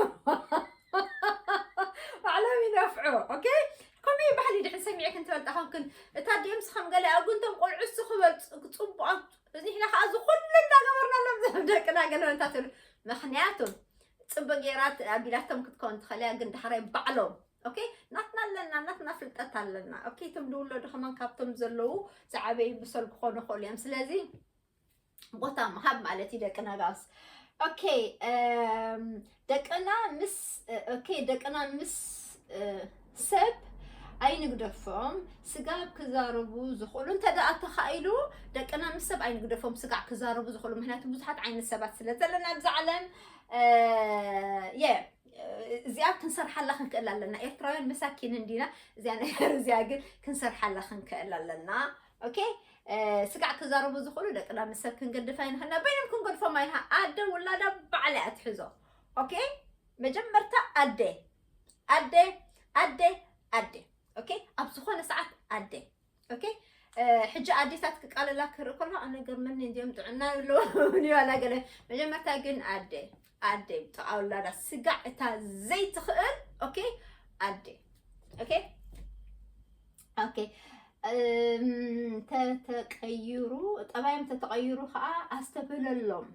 ባዕሎም ይነፍዑ ኦኬ ከምኡ እዩ ባህሊ ድሕን ሰሚዐ ክንትበልጣ ከምክን እታ ዲምስ ከም ገለ ኣጉንቶም ቆልዑ እሱ ክበል ፅቡቃን ንሕና ከዓ እዚ ኩሉ እንዳገበርናሎም ዝም ደቅና ገለበልታ ትብሉ ምክንያቱ ፅቡቅ ጌራት ኣቢላቶም ክትከውን ትኸእልያ ግን ዳሕራይ ባዕሎም ኦኬ ናትና ኣለና ናትና ፍልጠት ኣለና ኦኬ እቶም ዝውለዱ ከማን ካብቶም ዘለዉ ዝዓበዩ ብሰል ክኾኑ ይኽእሉ እዮም ስለዚ ቦታ ምሃብ ማለት እዩ ደቂ ነጋስ ኦኬ ደቅና ምስ ኦኬ ደቅና ምስ ሰብ ኣይንግደፎም ስጋብ ክዛረቡ ዝኽእሉ እንተ ደኣ ተኻኢሉ ደቅና ምስ ሰብ ኣይንግደፎም ስጋዕ ክዛረቡ ዝኽእሉ ምክንያቱ ብዙሓት ዓይነት ሰባት ስለ ዘለና ኣብዚ ዓለም የ እዚኣ ክንሰርሓላ ክንክእል ኣለና ኤርትራውያን መሳኪን እንዲና እዚኣ ነገር እዚኣ ግን ክንሰርሓላ ክንክእል ኣለና ኦኬ ስጋዕ ክዛረቡ ዝኽእሉ ደቂ ዳሚ ሰብ ክንገድፍ ኣይንኽእልና በይኖም ክንገድፎም ኣይንሃ ኣደ ውላዳ ባዕላ እያ ትሕዞ ኦኬ መጀመርታ ኣደ ኣደ ኣደ ኣደ ኦኬ ኣብ ዝኾነ ሰዓት ኣደ ኦኬ ሕጂ ኣዴታት ክቃለላ ክርኢ ከሎ ኣነ ገርመኒ እንዲኦም ጥዕና ኣለዎም ይባላ ገለ መጀመርታ ግን ኣደ ኣደይ ብጥቓ ውላዳ ስጋዕ እታ ዘይትኽእል ኦኬ ኣደ ኦኬ ኦኬ ተተቀይሩ ጠባዮም ተተቀይሩ ከዓ ኣስተብህለሎም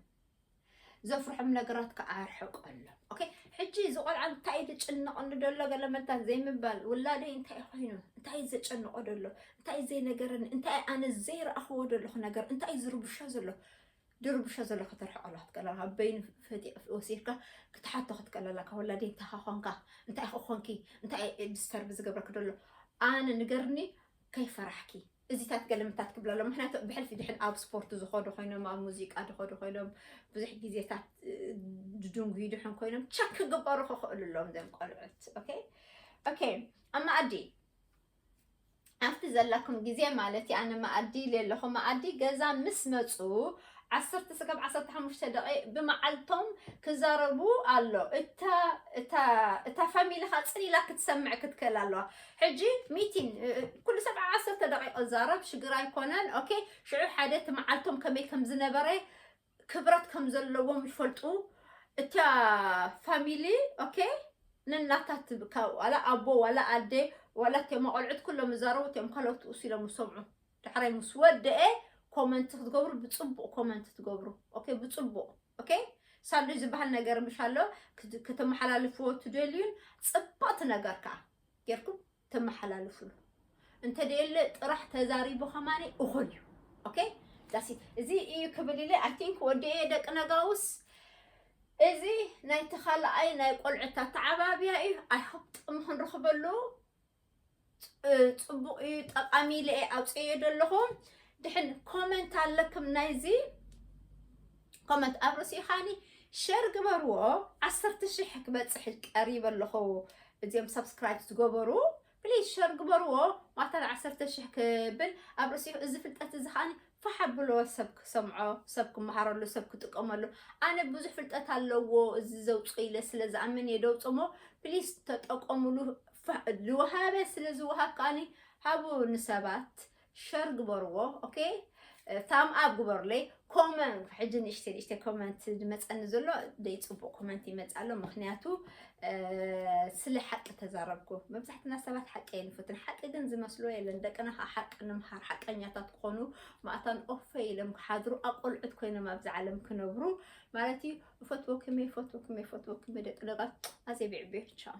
ዘፍርሖም ነገራት ከዓ ኣርሕቀሎም ኦኬ ሕጂ እዚ ቆልዓ እንታይ እዩ ዝጭነቐኒ ደሎ ገለ መልታት ዘይምባል ውላደይ እንታይ ኮይኑ እንታይ እዩ ዘጨንቆ ደሎ እንታይ እዩ ዘይነገረኒ እንታይ ኣነ ዘይረኣኽዎ ደለኹ ነገር እንታይ እዩ ዝርብሾ ዘሎ ድርብሾ ዘሎ ከተርሕቆ ኣለካ ትቀለላ በይኑ ፈጢ ወሲድካ ክትሓቶ ክትቀለላ ካብ ወላዲ እንታይ ኮንካ እንታይ ኮንኪ እንታይ ዲስተርብ ዝገብረክ ደሎ ኣነ ንገርኒ ከይፈራሕኪ እዚታት ገለምታት ክብላ ኣሎ ምክንያቱ ብሕልፊ ድሕን ኣብ ስፖርት ዝኸዱ ኮይኖም ኣብ ሙዚቃ ዝኸዱ ኮይኖም ብዙሕ ግዜታት ድድንጉዩ ድሕን ኮይኖም ቸክ ክግበሩ ክኽእሉ ኣለዎም ዘም ቆልዑት ኦኬ ኦኬ ኣብ መኣዲ ኣብቲ ዘላኩም ግዜ ማለት እዩ ኣነ መኣዲ ኢለ ኣለኹ መኣዲ ገዛ ምስ መፁ ዓሰርተ ስጋብ ዓሰርተ ሓሙሽተ ደቂቅ ብመዓልቶም ክዛረቡ ኣሎ እታ እታ እታ ፋሚሊ ካ ፅን ኢላ ክትሰምዕ ክትክእል ኣለዋ ሕጂ ሚቲን ኩሉ ሰብ ዓሰርተ ደቂቅ ዛረብ ሽግር ኣይኮነን ኦኬ ሽዑ ሓደ እቲ መዓልቶም ከመይ ከም ዝነበረ ክብረት ከም ዘለዎም ይፈልጡ እታ ፋሚሊ ኦኬ ንናታት ብካ ዋላ ኣቦ ዋላ ኣዴ ዋላ እቴ መቆልዑት ኩሎም ይዛረቡ እቴም ካልኦት ኡስ ኢሎም ይሰምዑ ዳሕራይ ምስ ወደኤ ኮመንት ክትገብሩ ብፅቡቅ ኮመንት ትገብሩ ኦኬ ብፅቡቅ ኦኬ ሳሉ ዝበሃል ነገር ምሻሎ ክትመሓላልፍዎ ትደልዩን ፅብቕቲ ነገር ከዓ ጌርኩም ተመሓላልፍሉ እንተደየለ ጥራሕ ተዛሪቡ ከማኒ እኹል እዩ ኦኬ ዳሲ እዚ እዩ ክብል ኢለ ኣይ ቲንክ ወዲኤ ደቂ ነጋውስ እዚ ናይ ተኻልኣይ ናይ ቆልዑት ኣተዓባብያ እዩ ኣይ ሆፕ ጥቕሚ ክንረኽበሉ ፅቡቕ እዩ ጠቓሚ ኢለ ኣውፅኤ ዘለኹ ድሕን ኮመንት ኣለክም ናይዚ ኮመንት ኣብ ርእሲ ኻኒ ሸር ግበርዎ ዓሰርተ ሽሕ ክበፅሕ ቀሪበ ኣለኹ እዚኦም ሰብስክራይብ ዝገበሩ ፕሊዝ ሸር ግበርዎ ማታን ዓሰርተ ሽሕ ክብል ኣብ ርእሲ እዚ ፍልጠት እዚ ኸዓኒ ፋሕ ኣብልዎ ሰብ ክሰምዖ ሰብ ክመሃረሉ ሰብ ክጥቀመሉ ኣነ ብዙሕ ፍልጠት ኣለዎ እዚ ዘውፅኦ ኢለ ስለ ዝኣምን እየ ደውፅ እሞ ፕሊዝ ተጠቀሙሉ ዝወሃበ ስለ ዝወሃብ ከዓኒ ሃቡ ንሰባት ሸር ግበርዎ ኦኬ ታም ኣብ ግበሩለይ ኮመንት ሕጂ ንእሽተይ ንእሽተይ ኮመንት ዝመፀኒ ዘሎ ደይ ፅቡቅ ኮመንት ይመፅ ኣሎ ምክንያቱ ስለ ሓቂ ተዛረብኩ መብዛሕትና ሰባት ሓቂ የንፍትን ሓቂ ግን ዝመስሎ የለን ደቅና ከዓ ሓቂ ንምሃር ሓቀኛታት ክኾኑ ማእታን ኦፈ ኢሎም ክሓድሩ ኣቆልዑት ኮይኖም ኣብዚ ዓለም ክነብሩ ማለት እዩ እፈትወክመ ይፈትወክመ ይፈትወክመ ደቂ ደቃት ኣዘይ ብዕቤ ቻው